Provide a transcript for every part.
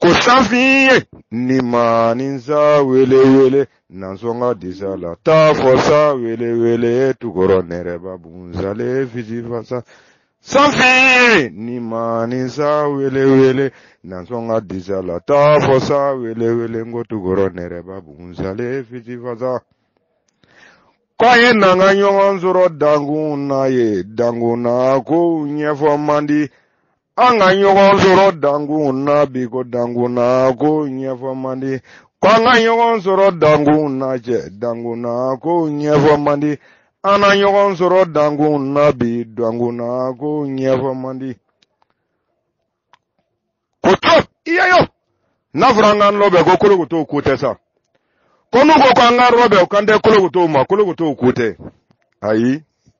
ko safin ye ni ma ni sa wele wele nansɔn ka disa la taa fɔ sa wele wele tukɔrɔ nɛrɛba bunzale fisi fasa safin ye ni ma ni sa wele wele nansɔn ka disa la taa fɔ sa wele wele ko tukɔrɔ nɛrɛba bunzale fisi fasa. ko a ye na an ka ɲɔgɔn sɔrɔ dankun na ye dankun na ko ɲɛfɔ man di. An ka ɲɔgɔn sɔrɔ dankun na bi ko dankun na ko ɲɛfɔ man di. Ko an ka ɲɔgɔn sɔrɔ dankun na cɛ dankun na ko ɲɛfɔ man di. An na ɲɔgɔn sɔrɔ dankun na bi dankun na ko ɲɛfɔ man di. Ko to i ye yo. N'a fɔra an k'a rɔbɛn ko kolokotow ko tɛ sa. Ko n'u ko ko an k'a rɔbɛn u kan tɛ kolokotow ma kolokotow ko tɛ. Ayi.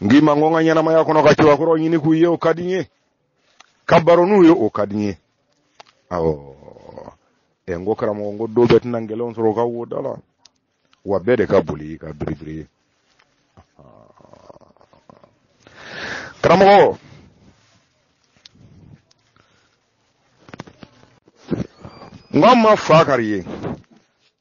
n k'i ma n ko n ka ɲɛnamaya kɔnɔ ka cɛbakɔrɔw ɲini k'u ye o ka di n ye ka baro n'u ye o ka di n ye awɔ ɛ n ko karamɔgɔ n ko don bɛɛ tɛna ngɛlɛnw sɔrɔ u ka wo da la wa bɛɛ de ka boli ka biribiri ye karamɔgɔ n ko an ma fa kari ye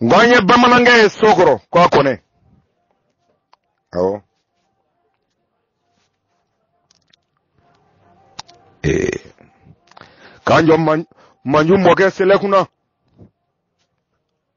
N k'an ye bamanankɛ ye so kɔrɔ k'a kɔnɛ awɔ ee k'an jɔ manju mɔkɛ selɛkunna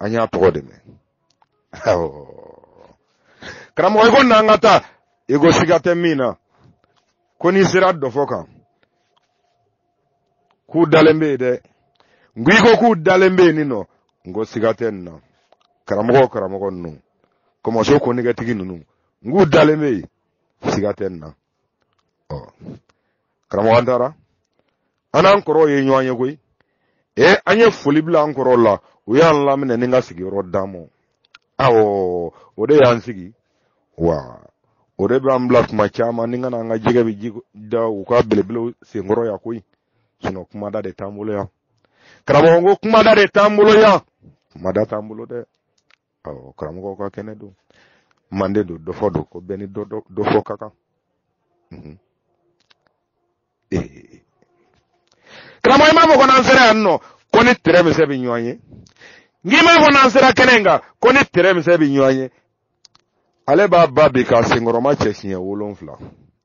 An y'a tɔgɔ de mɛn. Karamɔgɔ i ko na an ka taa, i ko siga tɛ min na, ko n'i sera dɔfɔ kan, k'u dalen bɛ yen dɛ. N ko i ko k'u dalen bɛ yen nin nɔ, n ko siga tɛ nin na. Karamɔgɔ o karamɔgɔ ninnu, kɔmɔ suko nɛgɛtigi ninnu, n k'u dalen bɛ yen, siga tɛ nin na. karamɔgɔ an taara an n'an kɔrɔw ye ɲɔgɔn ye koyi e an ye foli bila an kɔrɔw la u y'an laminɛ nin ka sigiyɔrɔ d'an ma awɔ o de y'an sigi wa o de b'an bila tuma caman nin ka na an ka jɛgɛ bɛ ji da u ka belebelew senkɔrɔ yan koyi sinɔn kumada de t'an bolo yan karamɔgɔ ko kumada de t'an bolo yan kumada t'an bolo dɛ ɔ karamɔgɔw ka kɛnɛ don mande don dɔ fɔ don ko bɛɛ ni dɔ fɔ ka kan mhm. eh. karamɔgɔ i m'a fɔ ko n'an sera yan nɔ ko ni tɛrɛ misɛn bɛ ɲɔgɔn ye n k'i m'a fɔ n'an sera kɛnɛ in kan ko ni tɛrɛ misɛn bɛ ɲɔgɔn ye ale b'a ba bi k'a senkɔrɔmacɛ siɲɛ wolonfila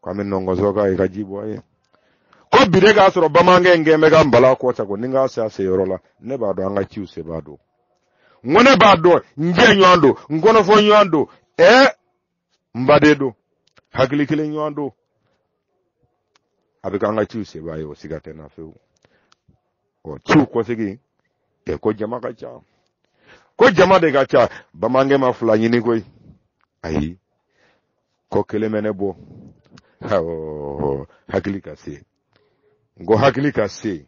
ko an bɛ nɔngɔnso ka i ka ji bɔ ye ko bi de k'a sɔrɔ bamanankɛ in kɛn bɛ ka n bala kɔ sago ni n k'a se a se yɔrɔ la ne b'a dɔn an ka ciw sebaa don n ko ne b'a dɔn n jɛ ɲɔgɔn don n kɔnɔfɔ ɲɔgɔn don ɛɛ n baden don hakili kelen ɲɔgɔn don a bɛ k'an ka ciw sebaa ye o siga tɛ n na fewu ɔ ciw kɔsegin ɛ ko jama ka ca ko jama de ka ca bamanankɛ ma fila ɲini koyi ayi ko kelen bɛ ne bɔ hakili ka se n ko hakili ka se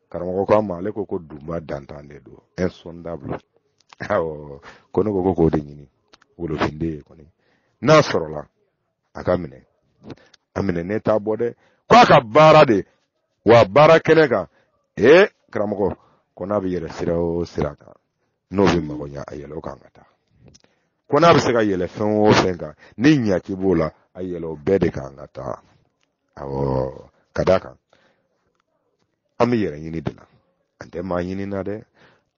karamɔgɔ ko a ma ale ko ko dunba dantan de don insondable awɔ ko ne ko ko k'o de ɲini wolofinden ye kɔni n'a sɔrɔla a k'a minɛ a minɛ ne t'a bɔ dɛ ko a ka baara de wa baara kɛnɛ kan ee karamɔgɔ ko n'a bɛ yɛlɛ sira o sira kan n'o bɛ mago ɲa a yɛlɛ o kan ka taa ko n'a bɛ se ka yɛlɛ fɛn o fɛn kan ni ɲaki b'o la a yɛlɛ o bɛɛ de kan ka taa awɔ ka d'a kan an bɛ yɛrɛ ɲini de la an tɛ maa ɲini na dɛ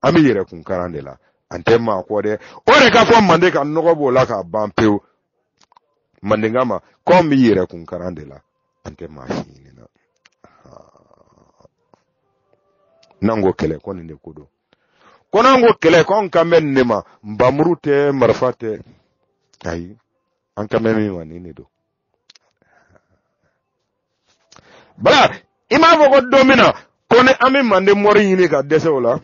an bɛ yɛrɛ kun karan de la an tɛ maa kɔ dɛ o de k'a fɔ manden ka nɔgɔ b'o la k'a ban pewu mandenka ma k'an bɛ yɛrɛ kun karan de la an tɛ maa si ɲini na n'an ko kɛlɛ ko nin de ko don ko n'an ko kɛlɛ ko anw kan bɛ nin de ma npanmuru tɛ marifa tɛ ayi an kan bɛ min ma nin de don bala i m'a fɔ ko don min na ko ni an bɛ manden mɔri ɲini ka dɛsɛ u la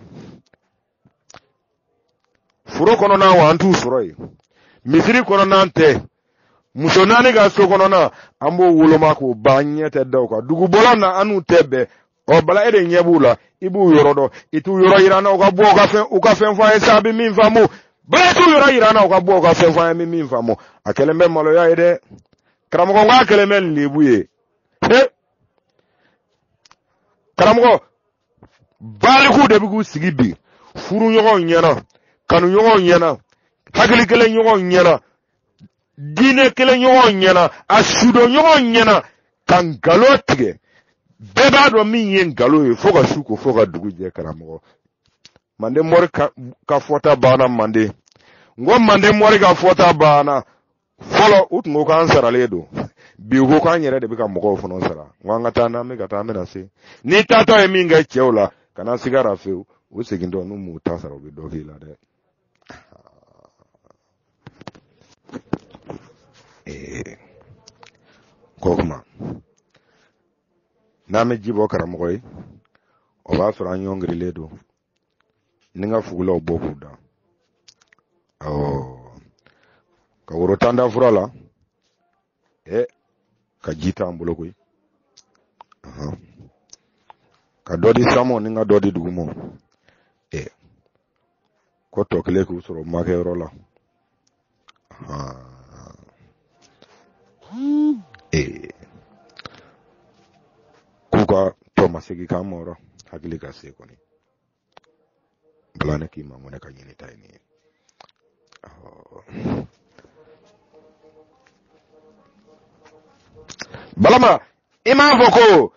foro kɔnɔna wa an t'u sɔrɔ yen misiri kɔnɔna tɛ muso naani ka so kɔnɔna an b'o woloma k'o ban an ɲɛ tɛ da u kan dugu bɔlɔn na an n'u tɛ bɛn ɔ bala e de ɲɛ b'u la i b'u yɔrɔ dɔn i t'u yɔrɔ yira an na u ka bɔ u ka fɛn u ka fɛn fɔ an ye sa a bɛ min faamu bala t'u yɔrɔ yira an na u ka bɔ u ka fɛn fɔ an ye min min faamu a kɛlen bɛ maloya ye dɛ karamɔgɔ n k'a kɛlen bɛ nin lebu ye he karamɔgɔ balikuw de bɛ k'u sigi bi furuɲɔgɔnw ɲɛna kanuɲɔgɔnw ɲɛna hakili kelen ɲɔgɔnw ɲɛna diinɛ kelen ɲɔgɔn ɲɛna a sudon ɲɔgɔn ɲɛna ka nkalon tigɛ bɛɛ b'a dɔn min ye nkalon ye fo ka su ko fo ka dugu jɛ karamɔgɔ manden mɔri ka fɔta banna manden n ko manden mɔri ka fɔta banna fɔlɔ u tun ko k'an saralen don bi u ko k'an yɛrɛ de bɛ ka mɔgɔw fana sara n ko an ka taa n'an bɛ ka taa an bɛna se n'i taatɔ ye min kɛ cɛw la kana sigara fewu u segintɔ n'u m'u ta sara u bɛ dɔ k'i la dɛ ee ko kuma n'an bɛ ji bɔ karamɔgɔ ye o b'a sɔrɔ an ɲɔngirilen don ni ka fugulaw bɔ k'u da awɔ ka woro tan da fura la ɛ ka ji t'an bolo koyi ka dɔ di sanmɔ ni ka dɔ di dugumɔ ɛ ko tɔ kelen k'u sɔrɔ makɛ yɔrɔ la ee k'u ka tɔ ma segin k'an ma yɔrɔ hakili ka se kɔni bala ne k'i ma mun ne ka ɲini ta ye nin bala ma i m'a fɔ ko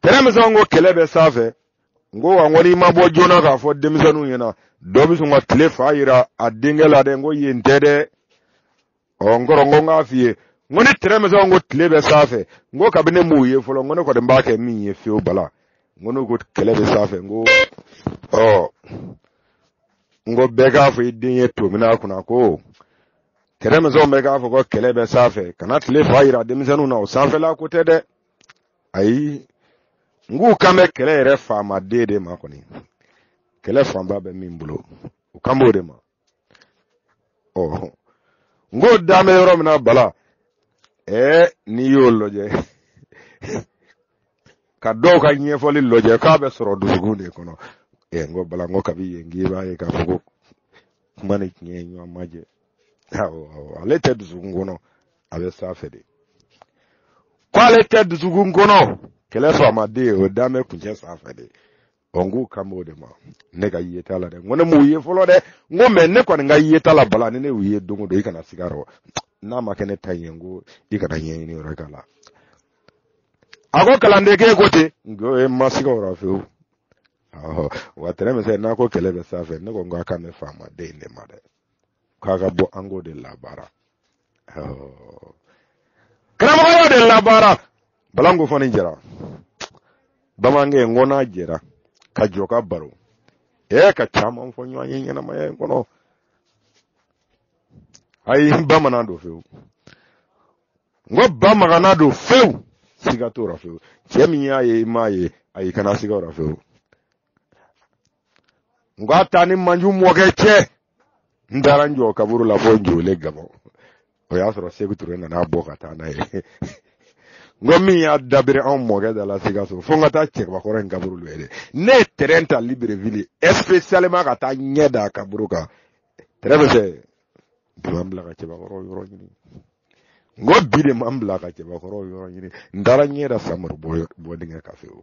tɛrɛmisɛn ko kɛlɛ bɛ sanfɛ n ko wa n ko n'i ma bɔ joona k'a fɔ denmisɛnninw ɲɛna dɔ bɛ sɔn ka tile fa yira a denkɛ la dɛ n ko yen tɛ dɛ ɔ n kɔrɔ n ko n k'a f'i ye n ko ni tɛrɛmisɛn n ko tile bɛ sanfɛ n ko kabini ne m'u ye fɔlɔ n ko ne kɔni b'a kɛ min ye fewu bala n ko n'u ko kɛlɛ bɛ sanfɛ n ko ɔ n ko bɛɛ k'a fɔ i den ye to min a kunna ko tɛrɛmisɛn bɛɛ k'a fɔ ko kɛlɛ bɛ sanfɛ kana tile fa yira denmisɛnninw na o sanfɛla ko tɛ dɛ ayi n k'u kan bɛ kɛlɛ yɛrɛ faamaden de ma kɔni kɛlɛ fanba bɛ min bolo u kan b'o de ma ɔ n ko dan bɛ yɔrɔ min na bala ɛɛ n'i y'o lajɛ ka dɔw ka ɲɛfɔli lajɛ k'a bɛ sɔrɔ dusukun de kɔnɔ ɛɛ n ko bala n ko kabi yen k'i b'a ye k'a fɔ ko kuma ni tiɲɛ ye ɲɔgɔn ma jɛ awɔ awɔ ale tɛ dusukun kɔnɔ a bɛ sanfɛ de ko ale tɛ dusukun kɔnɔ kɛlɛ faamaden o dan bɛ kuncɛ sanfɛ de ɔ n k'u kan b'o de ma ne ka yeta la dɛ n ko ne m'u ye fɔlɔ dɛ n ko mɛ ne kɔni ka yeta la bala ni ne y'u ye don o don i kana siga rɔ n'a ma kɛ ne ta ye n ko i kana ɲɛɲini yɔrɔ k'a la a ko kalanden k'e ko ten n ko e ma siga o rɔ fewu wa tɛrɛmisɛn n'a ko kɛlɛ bɛ sanfɛ ne ko n k'a kan bɛ faamaden in de ma dɛ k'a ka bɔ an k'o de labaara oh. karamɔgɔ y'o de labaara bala n ko fana jɛra bamanankɛ n ko n'a jɛra ka jɔ ka baro e ka caman fɔ ɲɔgɔn ye ɲɛnamaya in kɔnɔ ayi bamanan don fewu n ko bamagana don fewu siga t'o la fewu cɛ min y'a ye i m'a ye ayi kana siga o la fewu n ko a taa ni manju mɔkɛ cɛ n taara n jɔ kaburu la fo njole gabɔn o y'a sɔrɔ seku ture nana bɔ ka taa n'a ye n ko min y'a dabiri anw mɔkɛ da la sikaso fo n ka taa cɛkɔrɔba in kaburu la dɛ ne ye tɛrɛn ta libreville especialement ka taa ɲɛ da kaburu kan tɛrɛn bɛ fɛ duwan bila ka cɛbakɔrɔ yɔrɔ ɲini n ko bi de ma n bila ka cɛbakɔrɔw yɔrɔ ɲini n taara n ɲɛ da samori bɔ dingɛ kan fewu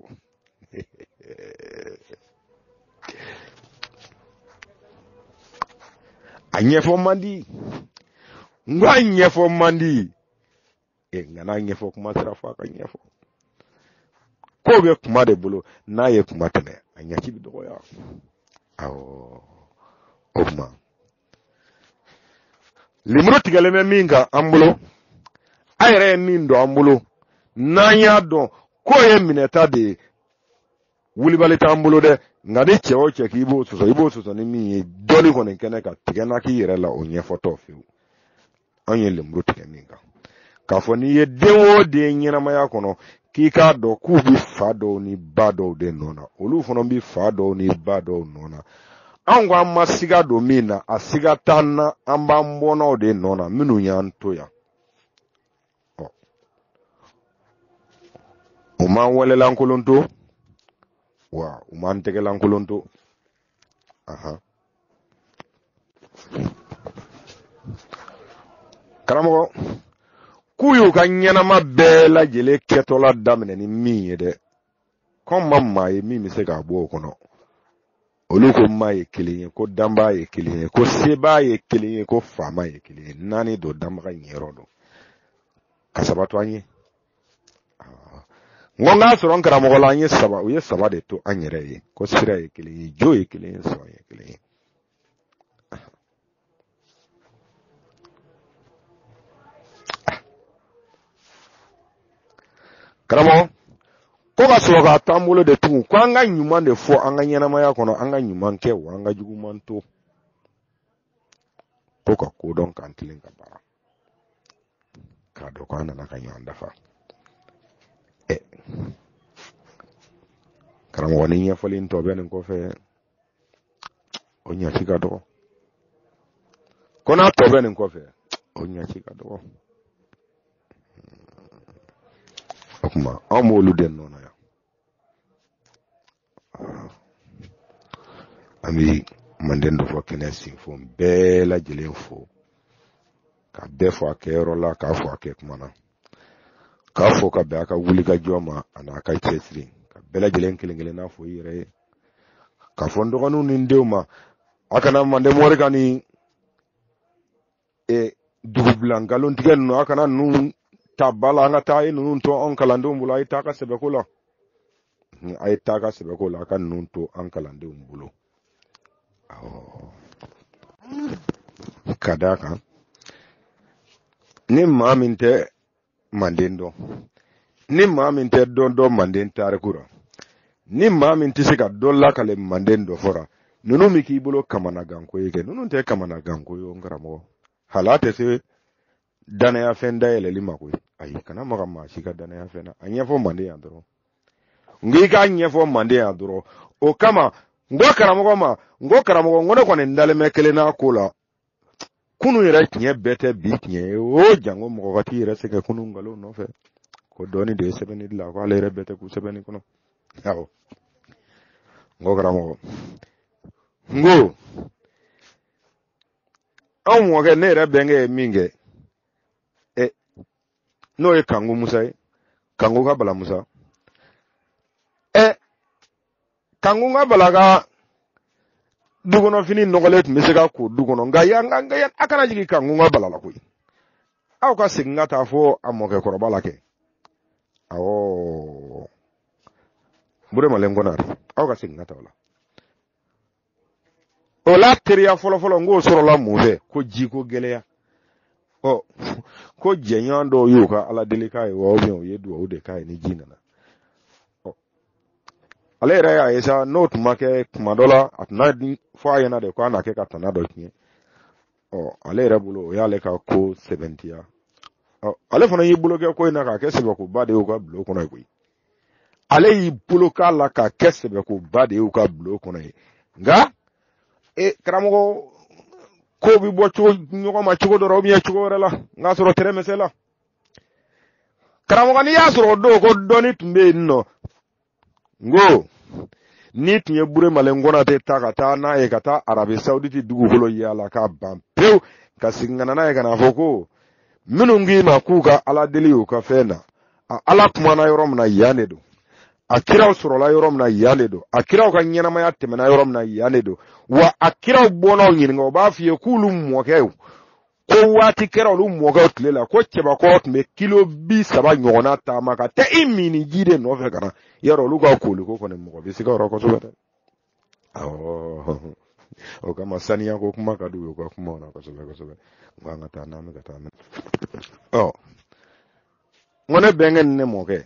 a ɲɛfɔ man di n ko a ɲɛfɔ man di e nka n'a ɲɛfɔ kuma sera fɔ a ka ɲɛfɔ ko bɛ kuma de bolo n'a ye kuma tɛmɛ a ɲɛci bɛ dɔgɔya awɔ o kuma lemuru tigɛlen bɛ min kan an bolo a yɛrɛ ye min don an bolo n'an y'a dɔn k'o ye minɛta de ye wulibali t'an bolo dɛ nka ni cɛ o cɛ k'i b'o sɔsɔ i b'o sɔsɔ ni min ye dɔɔni kɔni kɛnɛ ka tigɛ na k'i yɛrɛ la o ɲɛfɔtɔ fewu an ye lemuru tigɛ min kan k'a fɔ n'i ye den o den ɲɛnamaya kɔnɔ k'i k'a dɔn k'u bɛ fa dɔw ni ba dɔw de nɔ na olu fana bɛ fa dɔw ni ba dɔw nɔ na anw ko an ma siga don min na a siga t'an na an b'an bɔnnaw de nɔ na minnu y'an to yan u m'an walelankolon to wa u m'an tɛgɛlankolon to aha karamɔgɔ k'u y'u ka ɲɛnama bɛɛ lajɛlen kɛtɔla daminɛ ni min ye dɛ kɔn ma maa ye min bɛ se k'a bɔ o kɔnɔ olu ko maa ye kelen ye ko danbaa ye kelen ye ko sebaa ye kelen ye ko faama ye kelen ye naani don danbaga niyɔrɔ don ka saba to an ye n ko n'a sɔrɔ n karamɔgɔ la u ye saba de to an yɛrɛ ye ko sira ye kelen ye jo ye kelen ye sɔn ye kelen ye karamɔgɔ ko ka sɔrɔ k'a to an bolo de tugun ko an ka ɲuman de fɔ an ka ɲɛnamaya kɔnɔ an ka ɲuman kɛ wa an ka juguman to ko ka ko dɔn k'an tilen ka baara k'a dɔn ko an nana ka ɲɔgɔn dafa ɛ karamɔgɔ ni ɲɛfɔli in tɔ bɛ nin kɔfɛ o ɲɛci ka dɔgɔ ko n'a tɔ bɛ nin kɔfɛ o ɲɛci ka dɔgɔ o kuma anw b'olu de nɔ na an bɛ manden dɔfɔ kɛnɛ sinfo bɛɛ lajɛlen fo ka bɛɛ fo a kɛyɔrɔ la k'a fo a kɛ kuma na k'a fo ka bɛn a ka wulikajɔ ma ani a ka cɛsiri ka bɛɛ lajɛlen kelen kelen na fo i yɛrɛ ye k'a fɔ n dɔgɔninw ni n denw ma a kana manden mori ka ni e dugubila nkalon tigɛ ninnu a kana ninnu ta ba la an ka taa a ye ninnu to an kalandenw bolo a ye taa ka sɛbɛko la a ye taa ka sɛbɛko la a ka ninnu to an kalandenw bolo ka d'a kan ni maa min tɛ manden dɔn ni maa min tɛ dɔ dɔn manden tariku la ni maa min tɛ se ka dɔ lakale manden dɔfɔ ra ninnu bɛ k'i bolo kamanaganko ye kɛ ninnu tɛ kamanaganko ye n karamɔgɔ hala tɛ se danayafɛn dayɛlɛli ma koyi ayi kana maga maa si ka danayafɛn na a ɲɛfɔ manden yan dɔrɔn n ko i k'a ɲɛfɔ manden yan dɔrɔn o kama n ko karamɔgɔ ma n ko karamɔgɔ n ko ne kɔni dalen bɛ kelen na a ko la kunun yɛrɛ tiɲɛ bɛɛ tɛ bi tiɲɛ ye o janko mɔgɔ ka t'i yɛrɛ sɛgɛn kunun nkalon nɔfɛ ko dɔnni de ye sɛbɛnni dilan ko ale yɛrɛ bɛɛ tɛ kun sɛbɛnni kɔnɔ awɔ n ko karamɔgɔ n ko anw mɔkɛ ne yɛrɛ bɛnkɛ ye min kɛ ɛ n'o ye kanku musa ye kanku ka bala musa ɛ kankun ka bala ka du kɔnɔ fini nɔgɔlen tun bɛ se ka ko du kɔnɔ nka yan a kana jigin kankun ka bala la koyi aw ka segin ka taa fɔ a mɔkɛ kɔrɔba la kɛ awɔ buremalen konate aw ka segin ka taa o la o la teriya fɔlɔfɔlɔ n k'o sɔrɔla mun fɛ ko ji ko gɛlɛya ɔ ko jɛɲɔgɔn dɔw y'u ka ala deli k'a ye wa u ye dugawu de k'a ye ni ji nana ale yɛrɛ y'a ye sa n'o tun ma kɛ kuma dɔ la a tun di fɔ a ɲɛna de ko a na kɛ ka tana dɔ tiɲɛ ɔ ale yɛrɛ bolo o y'ale ka ko sɛbɛntiya ɔ ale fana y'i bolo kɛ ko in na k'a kɛ sɛbɛkoba de ye u ka bulon kɔnɔ ye koyi ale y'i bolo k'a la k'a kɛ sɛbɛkoba de ye u ka bulon kɔnɔ ye nka e karamɔgɔ ko bɛ bɔ ɲɔgɔn ma cogo dɔ la cogo wɛrɛ la n'a sɔrɔ tɛrɛmɛsɛ la karamɔgɔ n'i y'a sɔrɔ o don ko dɔnni tun bɛ yen nɔ n ko n'i tun ye buremalen konate ta ka taa n'a ye ka taa arabi sawuditi dugukolo yaala k'a ban pewu ka segin ka na n'a ye ka n'a fɔ ko minnu k'i ma k'u ka ala deli y'u ka fɛn na a ala kumana yɔrɔ min na yan de don a kiraw sɔrɔla yɔrɔ min na yan de don a kiraw ka ɲɛnamaya tɛmɛna yɔrɔ min na yan de don wa a kiraw bɔnnaw ɲininka o b'a f'i ye k'olu mɔkɛw ko waati kɛra olu mɔkɛw tile la ko cɛbakɔrɔ tun bɛ kilo bi saba ɲɔgɔnna taama ka taa i minniji de nɔfɛ ka na yarɔ olu ka koliko kɔni mɔgɔ bɛ se ka jɔrɔ kosɛbɛ dɛ awɔ o kama saniya ko kuma ka d'u ye u ka kuma o la kosɛbɛ kosɛbɛ n ko an ka taa n'an bɛ ka taa mɛ ɔ n ko ne bɛnkɛ ni ne mɔkɛ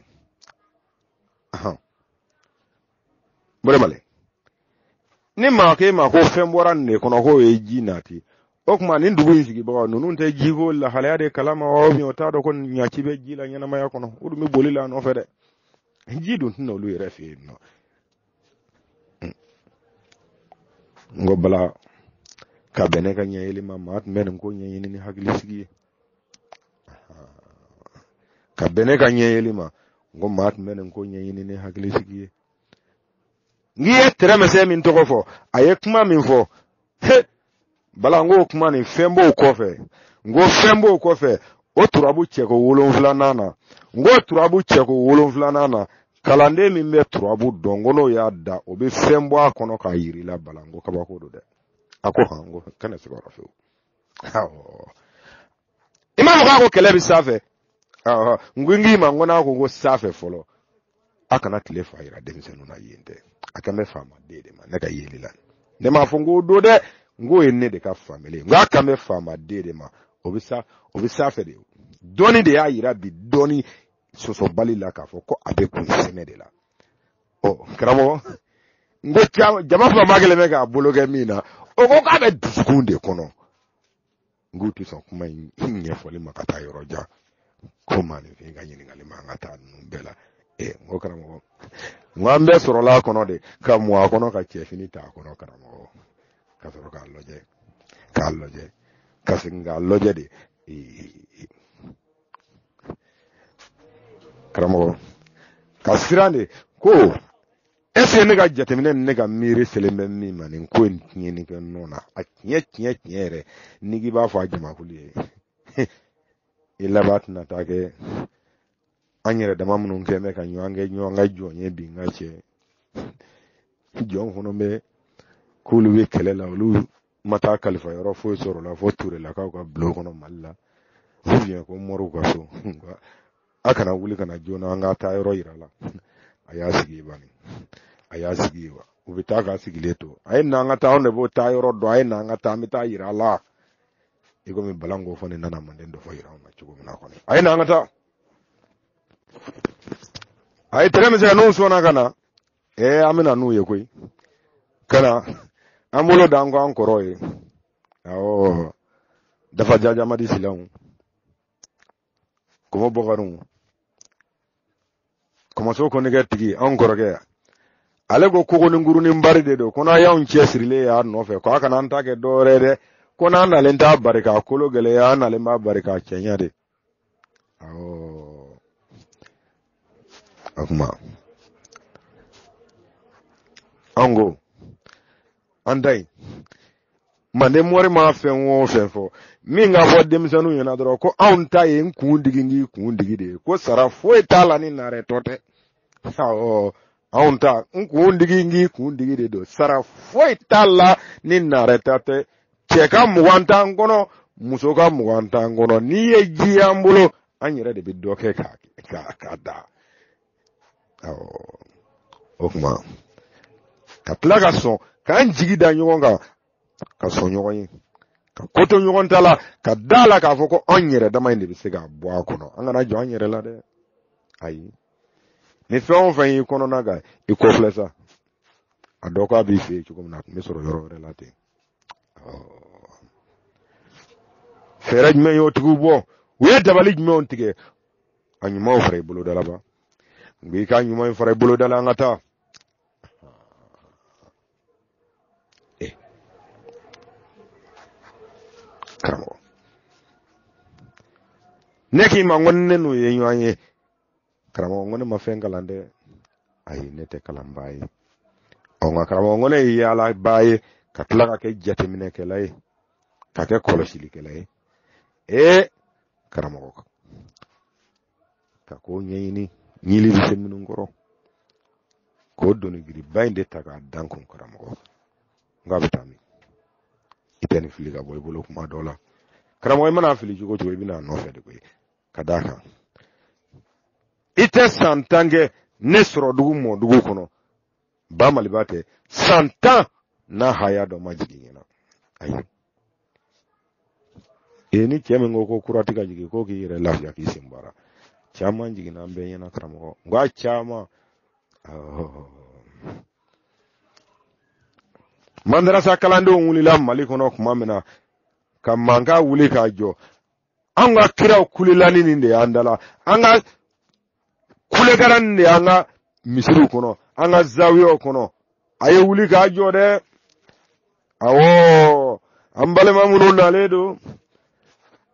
bɛrɛmale ni maa k'e ma ko fɛn bɔra nin de kɔnɔ k'o ye ji nati o tuma nin dugu in sigibagaw ninnu tɛ jiko lahalaya de kalama wa o t'a dɔn ko ɲɛci bɛ ji la ɲɛnamaya kɔnɔ o dun bɛ boli la a nɔfɛ dɛ ji dun tɛ na olu yɛrɛ fɛ yen nɔ n ko bala ka bɛn ne ka ɲɛyeli ma maa tun bɛ nin ko ɲɛɲini ni hakilisigi ye ka bɛn ne ka ɲɛyeli ma n ko maa tun bɛ nin ko ɲɛɲini ni hakili sigi ye n'i ye tɛrɛmɛsɛ min tɔgɔ fɔ a ye kuma min fɔ he bala n k'o kuma nin fɛn b'o kɔfɛ n ko fɛn b'o kɔfɛ o turabu cɛko wolonfilanan na n ko turabu cɛko wolonfilanan na kalanden min bɛ turabu dɔn ko n'o y'a da o bɛ fɛn bɔ a kɔnɔ k'a yir'i la bala n ko kabako don dɛ a ko han n ko kana se ka yɔrɔ fewu i m'a fɔ k'a ko kɛlɛ bɛ sanfɛ n ko n k'i ma n ko n'a ko ko sanfɛ fɔlɔ a kana tile fa yira denmisɛnninw na yen tɛ a kan bɛ faama den de ma ne ka yeli la ne m'a fɔ n k'o don dɛ n k'o ye ne de ka faamuyali ye n k'a kan bɛ faama den de ma o bɛ sa o bɛ sanfɛ de dɔnni de y'a yira bi dɔnni sɔsɔbali la k'a fɔ ko a bɛ kunsɛmɛ de la ɔ karamɔgɔ n ko caman jama fanba kelen bɛ k'a bolo kɛ min na o ko k'a bɛ dusukun de kɔnɔ n k'u tɛ sɔn kuma in ɲɛfɔli ma ka taa yɔrɔ jan ko maninfin ka ɲininkali man ka taa ninnu bɛɛ la ee n ko karamɔgɔ n ko an bɛɛ sɔrɔla a kɔnɔ de ka mɔ a kɔnɔ ka cɛfini ta a kɔnɔ karamɔgɔ ka sɔrɔ k'a lajɛ k'a lajɛ ka segin k'a lajɛ de ee karamɔgɔ ka siran de ko est-ce que ne ka jateminɛ ni ne ka miiri selen bɛ min ma nin ko in tiɲɛni kɛ nɔ na a tiɲɛ tiɲɛ tiɲɛ yɛrɛ n'i k'i b'a fɔ a jamakulu ye i laban tɛna taa kɛ an yɛrɛ dama minnu kɛ bɛ ka ɲɔgɔn kɛ ɲɔgɔn ka jɔn ye bi n ka cɛ jɔn fana bɛ k'olu bɛ kɛlɛ la olu ma taa kalifa yɔrɔ foyi sɔrɔ la fo turelakaw ka bulon kɔnɔ mali la ko moriw ka so a kana wuli ka na joona an ka taa yɔrɔ yir'a la a y'a sigi bani a y'a sigi wa u bɛ taa k'a sigilen to a ye na an ka taa anw de b'o taa yɔrɔ dɔn a ye na an ka taa an bɛ taa yira a la i komi bala n ko fɔ ne nana manden dɔ fɔ yira anw na cogo min na kɔni a ye na an ka taa a ye tɛgɛ min se ka n'u sɔnna ka na ee an bɛ na n'u ye koyi ka na an bolo da an kɔ an kɔrɔ ye awɔ dafa jajamadi silanw kɔmɔ bɔkarinw kɔmɔso konnɛgɛ tigi anw kɔrɔkɛ ale ko kogo ni nguru ni bari de don ko n'a y'anw cɛ sirilen y'a nɔfɛ ko a kana an ta kɛ dɔwɛrɛ dɛ ko n'an nalen t'a bari k'a kolo gɛlɛya an nalen b'a bari k'a cɛɲa de Awɔ. O kuma. An ko. An da yen. Manden mori ma fɛn o fɛn fɔ min ka fɔ denmisɛnninw ɲɛna dɔrɔn ko anw ta ye n kun digi n k'i kun digi de ye ko sara foyi t'a la ni narɛ tɔ tɛ anw ta n kun digi n k'i kun digi de don sara foyi t'a la ni narɛ tɔ tɛ cɛ ka mugan t'an kɔnɔ muso ka mugan t'an kɔnɔ n'i ye ji y'an bolo an yɛrɛ de bɛ dɔ kɛ k'a k'a k'a da awɔ o kuma ka tila ka sɔn k'an jigi da ɲɔgɔn kan ka sɔn ɲɔgɔn ye ka koto ɲɔgɔn ta la ka da la k'a fɔ ko an yɛrɛ dama in de bɛ se ka bɔ a kɔnɔ an kana jɔ an yɛrɛ la dɛ ayi ni fɛn o fɛn y'i kɔnɔna gan i kɔfilɛ sa a dɔn k'a b'i fɛ yen cogo min na a tun bɛ sɔrɔ yɔrɔ wɛrɛ la ten fɛɛrɛ jumɛn y'o tigiw bɔ u ye dabali jumɛnw tigɛ a ɲumanw fara i boloda la ban nka i ka ɲuman in fara i boloda la an ka taa eh karamɔgɔ ne k'i ma ko ne n'u ye ɲɔgɔn ye karamɔgɔ ko ne ma fɛn kalan dɛ ayi ne tɛ kalanbaa ye ɔ nka karamɔgɔ ko ne ye yaalabaa ye ka tila ka kɛ jateminɛkɛla ye ka kɛ kɔlɔsilikɛla ye ee karamɔgɔ ka ko ɲɛɲini ɲili bɛ se minnu kɔrɔ k'o doni girinba in de ta k'a da n kun karamɔgɔ n k'a bɛ taa min i tɛ nin fili ka bɔ i bolo kuma dɔ la karamɔgɔ i man'a fili cogo cogo i bɛ na a nɔfɛ de koyi ka d'a kan i tɛ san tan kɛ ne sɔrɔ dugu mɔ dugu kɔnɔ ba maliba tɛ san tan n'a haya dɔ ma jigin ɲɛna ayi e ni cɛ min ko ko kura tɛ ka jigin ko k'i yɛrɛ lafiya k'i sen bari caman jiginna an bɛɛ ɲɛna karamɔgɔ nka caman mandarasa kalandenw wulila mali kɔnɔ kuma min na ka mankan wuli k'a jɔ an ka kiraw kulelani nin de y'an da la an ka kulekara nin de y'an ka misiriw kɔnɔ an ka zawiyaw kɔnɔ a ye wuli k'a jɔ dɛ awɔ an balima minnu nalen don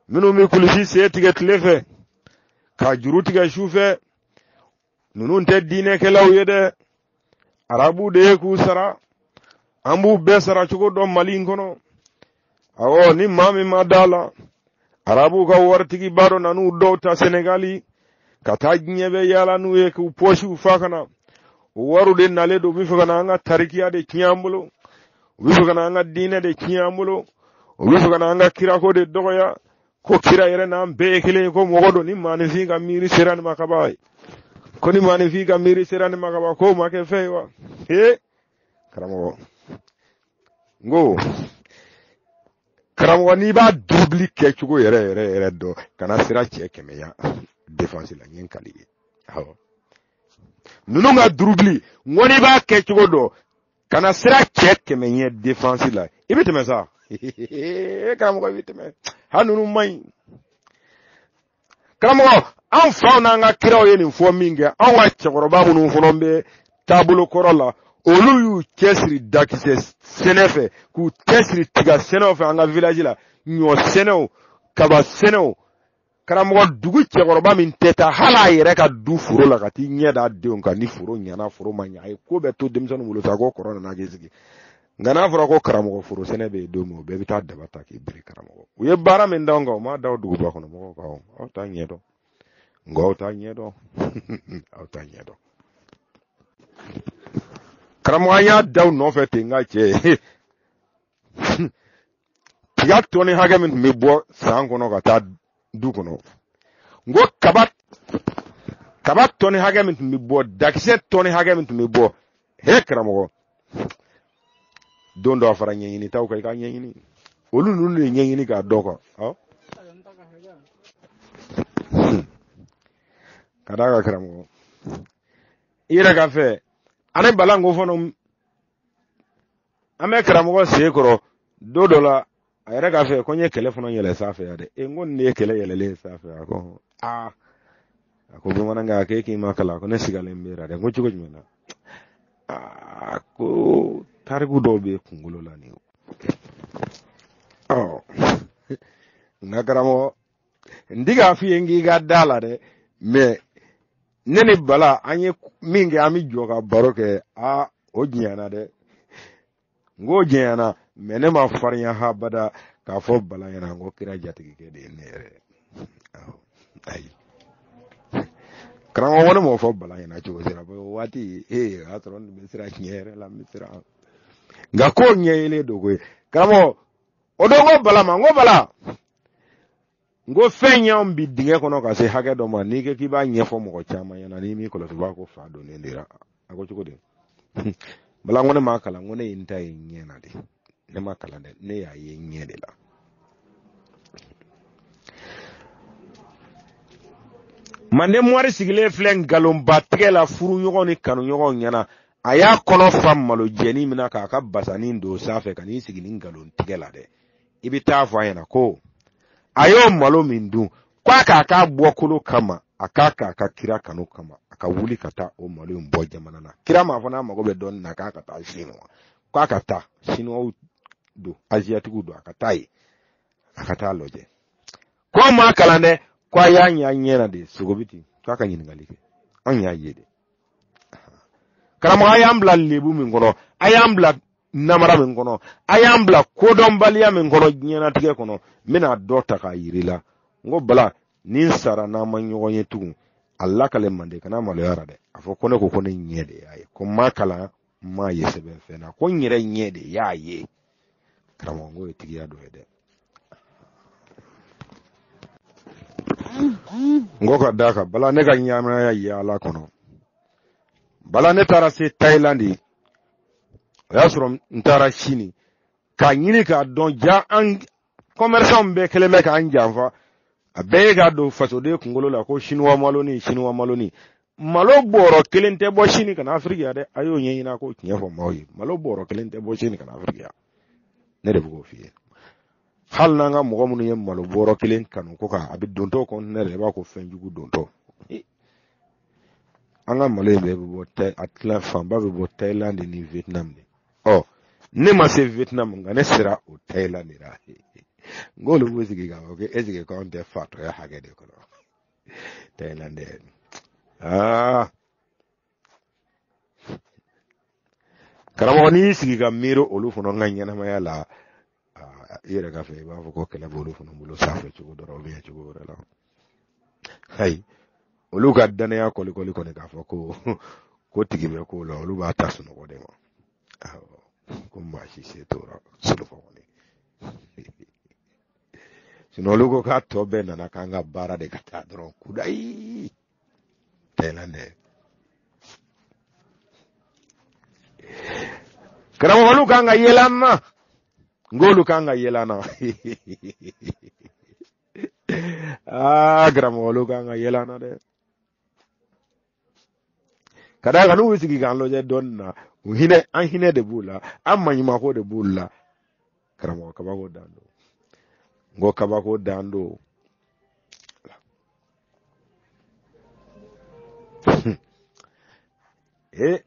minnu bɛ kulusi sen tigɛ tile fɛ k'a juru tigɛ su fɛ ninnu tɛ diinɛkɛlaw ye dɛ arabu de ye k'u sara an b'u bɛɛ sara cogo dɔn mali in kɔnɔ awɔ ni maa min ma da la arabuw ka waritigiba dɔ nan'u dɔw ta senegali ka taa diɲɛ bɛɛ yaala n'u ye k'u pɔsiw fa ka na o wariw de nalen don u bɛ fɛ ka na an ka tarikiya de tiɲɛ an bolo u bɛ fɛ ka na an ka diinɛ de tiɲɛ an bolo u bɛ fɛ ka na an ka kirako de dɔgɔya ko kira yɛrɛ n'an bɛɛ ye kelen ye ko mɔgɔ don ni maanifin ka miiri sera nin ma ka ban ye ko ni maanifin ka miiri sera nin ma ka ban k'o ma kɛ fɛn ye wa ee karamɔgɔ n ko karamɔgɔ n'i b'a durubili kɛcogo yɛrɛ yɛrɛ yɛrɛ dɔn kana siran cɛ kɛmɛ ɲɛ defansi la n ye n kali ye awɔ ninnu ka durubili n ko n'i b'a kɛcogo dɔn kana siran cɛ kɛmɛ ɲɛ defansi la i bɛ tɛmɛ sa e karamɔgɔ i bɛ tɛmɛ hali ninnu man ɲi karamɔgɔ an faw n'an ka kiraw ye nin fɔ min kɛ anw ka cɛkɔrɔba minnu fɔlɔ bɛ taabolo kɔrɔ la olu y'u cɛsiri dakisɛ sɛnɛ fɛ k'u cɛsiri tiga sɛnɛw fɛ an ka village la ɲɔ sɛnɛw kaba sɛnɛw karamɔgɔ dugu cɛkɔrɔba min tɛ taa hali a yɛrɛ ka du foro la ka t'i ɲɛ da denw kan ni foro ɲana foro ma ɲa a ye ko bɛɛ to denmisɛnninw bolo sa ko kɔrɔ nana k'i sigi nka n'a fɔra ko karamɔgɔ foro sɛnɛ bɛ yen don min o bɛɛ bɛ taa daba ta k'i biri karamɔgɔ u ye baara min d'anw kan u m'a da duguba kɔnɔ mɔgɔw kan aw t'a ɲɛ dɔn nka aw t'a ɲɛ dɔn aw t'a ɲɛ dɔn karamɔgɔ an y'a da u nɔfɛ ten nka cɛ tiga tɔni hakɛ min tun bɛ bɔ san kɔnɔ ka taa du kɔnɔ n ko kaba kaba tɔni hakɛ min tun bɛ bɔ dakisɛ tɔni hakɛ min tun bɛ bɔ he karamɔgɔ don dɔ a fara ɲɛɲini taw kan i ka ɲɛɲini olu ninnu de ɲɛɲini k'a dɔn kan ka d'a kan karamɔgɔ i yɛrɛ ka fɛ ani bala ko fana an bɛ karamɔgɔ sen kɔrɔ don dɔ la a yɛrɛ ka fɛ ko n ye kɛlɛ fana yɛlɛ sanfɛ yan dɛ e n ko nin de ye kɛlɛ yɛlɛlen sanfɛ a ko aa a ko bamanankɛ a ko e k'i ma kalan ko ne sigalen b'e ra dɛ n ko cogo jumɛn na aa ko tariku dɔw bɛ kunkolo la nin ɔ nka karamɔgɔ n ti k'a f'i ye n k'i ka d'a la dɛ mɛ ne ni bala an ye min kɛ an bɛ jɔ ka baro kɛ aa o janyana dɛ n k'o janyana mɛ ne ma farinya habada k'a fɔ bala ɲɛna n ko kira jatigikɛ de ye ne yɛrɛ ayi karamɔgɔ ne m'o fɔ bala ɲɛna cogo si ra o waati ee o y'a sɔrɔ n bɛ siran tiɲɛ yɛrɛ la n bɛ siran nka k'o ɲɛɲini dogo ye karamɔgɔ o don ko bala ma n ko bala n ko fɛn y'an bi dingɛ kɔnɔ ka se hakɛ dɔ ma n'i ko k'i b'a ɲɛfɔ mɔgɔ caman ɲɛna n'i m'i kɔlɔsi b'a ko fa donnen d'i la a ko cogo di bala ko ne m'a kalan ko ne ye n ta ye ɲɛ na de ne ma kalan dɛ ne y'a ye ɲɛ de la manden mɔri sigilen filɛ nkalonba tigɛ la furu ɲɔgɔn ni kanu ɲɔgɔn ɲɛna a y'a kɔnɔ fa malo jɛni min na k'a ka basanin don sanfɛ ka n'i sigi ni nkalon tigɛ la dɛ i bɛ taa fɔ a ɲɛna ko a y'o malo min dun ko a k'a k'a bɔkolo kama a k'a k'a ka kira kanu kama a ka wuli ka taa o malo in bɔ jamana na kira m'a fɔ n'a mago bɛ dɔnni na k'a ka taa sinuwa k'a ka taa sinuwaw don aziyatikiw don a ka taa yen a ka taa lajɛ ko an ma kalan dɛ ko a y'a ɲɛ ɲɛ na de sɔgɔbɛ ten k'a ka ɲininkali kɛ anw y'a ye de karamɔgɔ a y'an bila lebu min kɔnɔ a y'an bila namara min kɔnɔ a y'an bila kodɔnbaliya min kɔnɔ diɲɛnatigɛ kɔnɔ n bɛna dɔ ta k'a yira i la n ko bala ni n sara n'an ma ɲɔgɔn ye tugun a lakale mande kana maloya a ra dɛ a fɔ ko ne ko ko ne ɲɛ de y'a ye ko n m'a kalan n m'a ye sɛbɛn fɛn na ko n yɛrɛ ɲɛ de y'a ye karamɔgɔ n k'o ye tigiya dɔ ye dɛ n ko ka da kan bala ne ka ɲɛnamaya yaala kɔnɔ bala ne taara se thailand o y'a sɔrɔ n taara sini k'a ɲini k'a dɔn ja an kɔmɛrisanw bɛɛ kɛlen bɛ k'an janfa a bɛɛ ye k'a don fasoden kunkolo la ko sinuwa maloni sinuwa maloni malo bɔrɔ kelen tɛ bɔ sini ka na afiriki yan dɛ a y'o ɲɛɲini a k'o tiɲɛ fɔ maaw ye malo bɔrɔ kelen tɛ bɔ sini ka na afiriki yan ne de bɛ k'o f'i ye hali n'an ka mɔgɔ minnu ye malo bɔrɔ kelen kanu ko kan a bɛ dontɔ kɔntinɛ de i b'a ko fɛn jugu dontɔ an ka malo in bɛɛ bɛ bɔ tɛ a tila fanba bɛ bɔ Thailand ni Vietnam de ɔ ne ma se Vietnam nka ne sera o Thailand de la n k'olu b'u sigi k'a fɔ ko eseke k'anw tɛ fatɔya hakɛ de kɔnɔ Thailand dɛ aa karamɔgɔ n'i y'i sigi ka miiri olu fana ka ɲɛnamaya la i yɛrɛ ka fɛ i b'a fɔ ko kelen b'olu fana bolo sanfɛ cogo dɔ la u bɛ cogo wɛrɛ la ayi olu ka danaya kɔlikɔli kɔni k'a fɔ ko ko tigi bɛ ko la olu b'a ta sunɔgɔ de ma ko maa si se t'o ra sunɔgɔ kɔni sinɔn olu ko k'a tɔ bɛɛ nana k'an ka baara de ka taa dɔrɔn kudayi Thailand karamɔgɔ olu kan ka yɛlɛ an na n k'olu kan ka yɛlɛ an na aa karamɔgɔ olu kan ka yɛlɛ an na dɛ ka da kan n'u bɛ sigi k'an lajɛ dɔɔni na u hinɛ an hinɛ de b'u la an maɲumako de b'u la karamɔgɔ kabako dan don n ko kabako dan don ee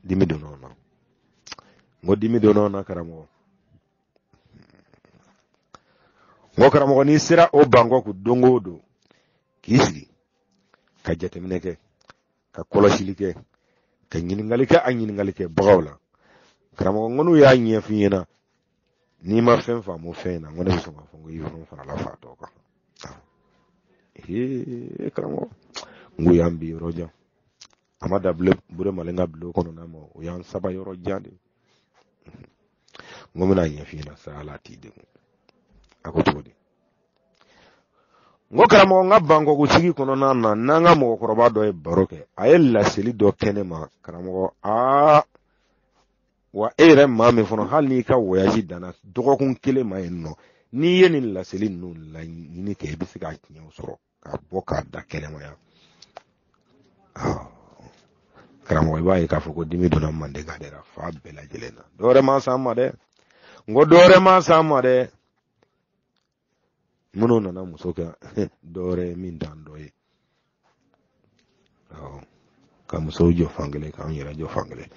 dimi donna o na n ko dimi donna o na karamɔgɔ n ko karamɔgɔ n'i sera o bangkɔku don o don k'i sigi ka jateminɛ kɛ ka kɔlɔsili kɛ ka ɲininkali kɛ a ɲininkali kɛbagaw la karamɔgɔ n ko n'u y'a ɲɛf'i ɲɛna n'i ma fɛn faamu fɛn in na ko ne bɛ sɔn k'a fɔ ko i fana farala fatɔ kan ee karamɔgɔ n ko y'an bi yɔrɔ jan a ma dan bure malen ka bulon kɔnɔna ma o y'an saba yɔrɔ jan de n ko n bɛna ɲɛf'i ɲɛna sa ala t'i degun a ko cogo di n ko karamɔgɔ n ka bangkɔku sigi kɔnɔna na n'an ka mɔgɔkɔrɔba dɔ ye baro kɛ a ye laseli dɔ kɛ ne ma karamɔgɔ aa wa e yɛrɛ maa min fana hali n'i ka wɔyaji danna dɔgɔkun kelen ma yen nɔ n'i ye nin laseli ninnu laɲini kɛ i bɛ se k'a tiɲɛw sɔrɔ k'a bɔ k'a da kɛnɛma yan karamɔgɔ i b'a ye k'a fɔ ko dimi donna manden ka dɛra fa bɛɛ lajɛlen na dɔwɛrɛ ma s'an ma dɛ n ko dɔwɛrɛ ma s'an ma dɛ minnu nana muso kɛ dɔwɛrɛ ye min dan dɔ ye ka musow jɔ fankelen k'an yɛrɛ jɔ fankelen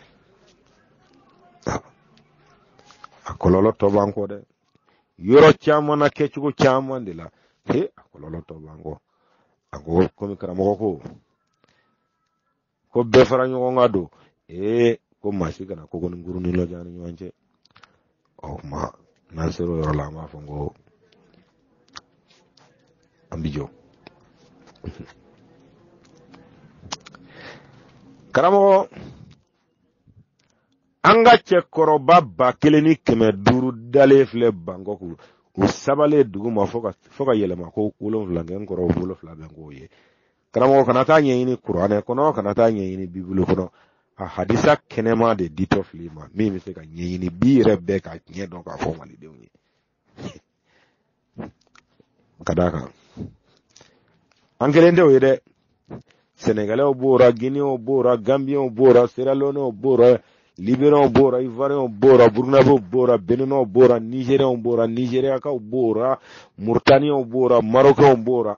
a kɔlɔlɔ tɔ b'an kɔ dɛ yɔrɔ caman na kɛcogo caman de la he a kɔlɔlɔ tɔ b'an kɔ a ko komi karamɔgɔ ko ko bɛɛ fara ɲɔgɔn kan don ee ko maa si kana ko ni kurun ni lɔja ni ɲɔgɔn cɛ ɔ kuma n'an sera o yɔrɔ la an b'a fɔ ko an bi jɔ karamɔgɔ an ka cɛkɔrɔba ba kelen ni kɛmɛ duuru dalen filɛ bangkɔku u sabalen dugu ma fo ka yɛlɛma ko wolonwula kɛ n kɔrɔ wolonwula bɛ k'o ye karamɔgɔ kana t'a ɲɛɲini kuranɛ kɔnɔ kana t'a ɲɛɲini bibulu kɔnɔ a hadisa kɛnɛman de ditɔ fil'i ma min bɛ se ka ɲɛɲini bi yɛrɛ bɛɛ ka tiɲɛ dɔn k'a fɔ malidenw ye ka d'a kan an kelen tɛ o ye dɛ sɛnɛgalɛw b'o la ginew b'o la ganbiyɛnw b'o la seralɔnew b'o la liberiyanw b'o la ivariyɛnw b'o la burukinabew b'o la beninw b'o la nizeriyɛnw b'o la nizeriyakaw b'o la muritaniyanw b'o la marokɛnw b'o la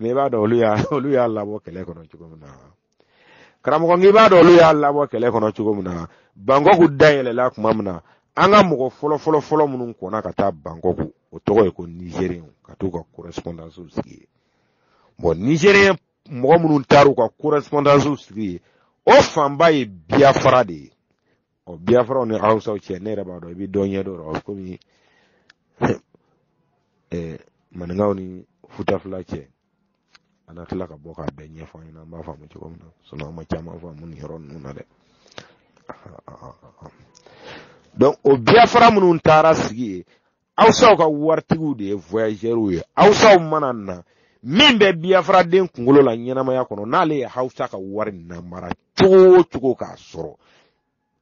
mɛ i b'a dɔn olu y'a olu y'a labɔ kɛlɛ kɔnɔ cogo min na karamɔgɔ n'i b'a dɔn olu y'a labɔ kɛlɛ kɔnɔ cogo min na bangkɔku dayɛlɛla tuma min na an ka mɔgɔ fɔlɔ fɔlɔ fɔlɔ minnu kɔnna ka taa bangkɔku o tɔgɔ ye ko nizeriyɛnw ka t'u ka kɔrɛsipɔndansiw sigi yen bɔn nizeriyɛn mɔgɔ minnu taar'u ka kɔrɛsipɔndansiw sigi yen o fanba ye biyafara de ye ɔ biafra ni hausaw cɛ ne yɛrɛ b'a dɔn i bɛ dɔ ɲɛ dɔ rɔ komi ɛɛ maninkaw ni futafula cɛ a na tila ka bɔ k'a bɛɛ ɲɛfɔ an ɲɛna an b'a faamu cogo min na sinɔn an ma caman faamu nin yɔrɔ ninnu na dɛ donc o biafra minnu taara sigi ye awusaw ka waritigiw de ye voyageurs ye awusaw mana na min bɛ biyafaraden kunkolo la ɲɛnamaya kɔnɔ n'ale ye hawusa ka wari namara cogo o cogo k'a sɔrɔ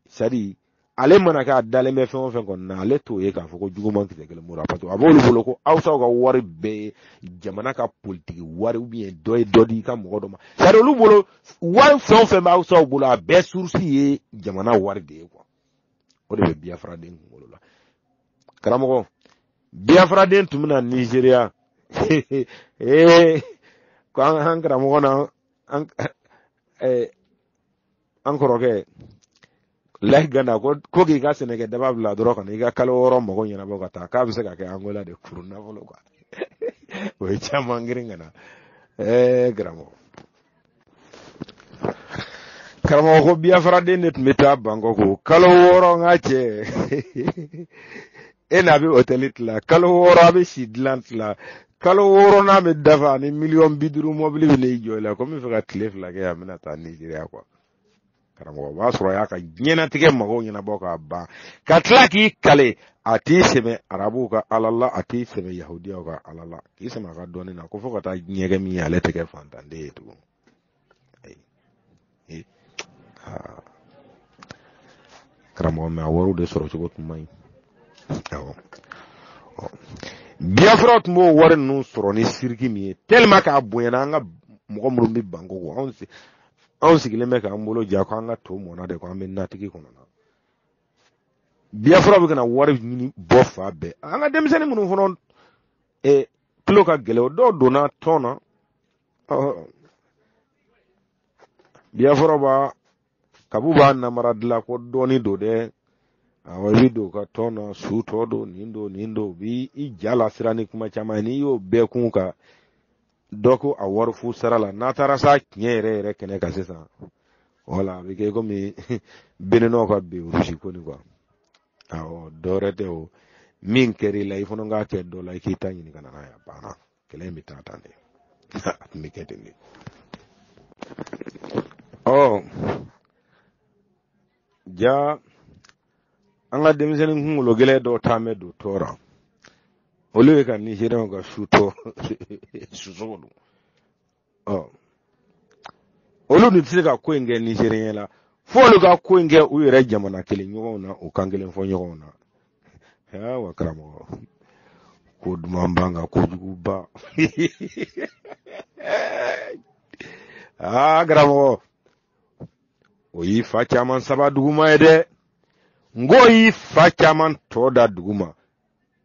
c'est-à-dire ale mana kɛ a dalen bɛ fɛn o fɛn kɔnɔ na ale t'o ye k'a fɔ ko juguman kisɛ kelen b'o ra parce que a b'olu bolo ko awusaw ka wari bɛɛ ye jamana ka politiki wari ou bien dɔ ye dɔ di i ka mɔgɔ dɔ ma c'est-à-dire olu bolo wari fɛn o fɛn bɛ awusaw bolo a bɛɛ source ye jamana wari de ye kuwa o de bɛ biyafaraden kunkolo la karamɔgɔ biyafaraden tun bɛna nizeriya ee ko an an karamɔgɔ na an eh, an kɔrɔkɛ lahi gana ko ko k'i ka sɛnɛkɛ daba bila dɔrɔn ka na i ka kalo wɔɔrɔ mago ɲɛnabɔ ka taa k'a bɛ se ka kɛ angola de kuru nafolo kuwa o ye caman girin ka na ɛɛ karamɔgɔ karamɔgɔ ko biyafaraden de tun bɛ taa bangkok kalo wɔɔrɔ n ka cɛ e n'a bɛ otɛli tila kalo wɔɔrɔ a bɛ si dilan tila kalo wɔɔrɔ n'a bɛ dafa ani miliyɔn bi duuru mɔbili bɛ n'i jɔ i la ko n bɛ fɛ ka tile fila kɛ yan n bɛna taa nizeriya kuwa karamɔgɔ o b'a sɔrɔ a y'a ka diɲɛnatigɛ mago ɲɛnabɔ k'a ban ka tila k'i kali a t'i sɛmɛ arabuw ka ala la a t'i sɛmɛ yahudiyaw ka ala la k'i sɛmɛ a ka dɔnni na ko fo ka taa ɲɛgɛn min ye ale tɛ kɛ fantanden ye tugun karamɔgɔ mɛ a wariw de sɔrɔ cogo tun man ɲi awɔ biyafaraw tun b'o wari ninnu sɔrɔ ni siriki min ye tellement k'a bonyana an ka mɔgɔ minnu bɛ bangkok anw anw sigilen bɛ k'an bolo ja ko an ka to mɔna de ko an bɛ natigi kɔnɔ na biafra bɛ ka na wari ɲini bɔ fan bɛɛ an ka denmisɛnnin minnu fana eh, tulo ka gɛlɛn o dɔw donna tɔn na biafra b'a kabu b'a namara dilan ko dɔnni don dɛ awɔ i bɛ don ka tɔn na su tɔ don nin don nin don u b'i ja lasiran ni kuma caman ye n'i y'o bɛɛ kun ka dɔ ko a wari fu sara la n'a taara sa tiɲɛ yɛrɛ yɛrɛ kɛnɛ kan sisan wala a bɛ kɛ komi béninois ka bi rusi ko nin kuwa awɔ dɔ wɛrɛ tɛ o min kɛr'i la i fana k'a kɛ dɔ la i k'i ta ɲini ka na n'a ye a banna kɛlɛ in bɛ taa tan de a tun bɛ kɛ ten de ɔ ja an ka denmisɛnnin kunkolo gɛlɛn dɔw taa mɛ don tɔɔrɔ olu ye ka nizeriyɛnw ka su tɔ susogo don ɔ olu dun tɛ se ka ko in kɛ nizeriyɛn la fo olu ka ko in kɛ u yɛrɛ jamana kelen ɲɔgɔnw na u kan kelen fɔ ɲɔgɔnw na aa wa karamɔgɔ ko duman ban ka kojugu ban aa karamɔgɔ o y'i fa caman saba duguma ye dɛ n k'o y'i fa caman tɔn da duguma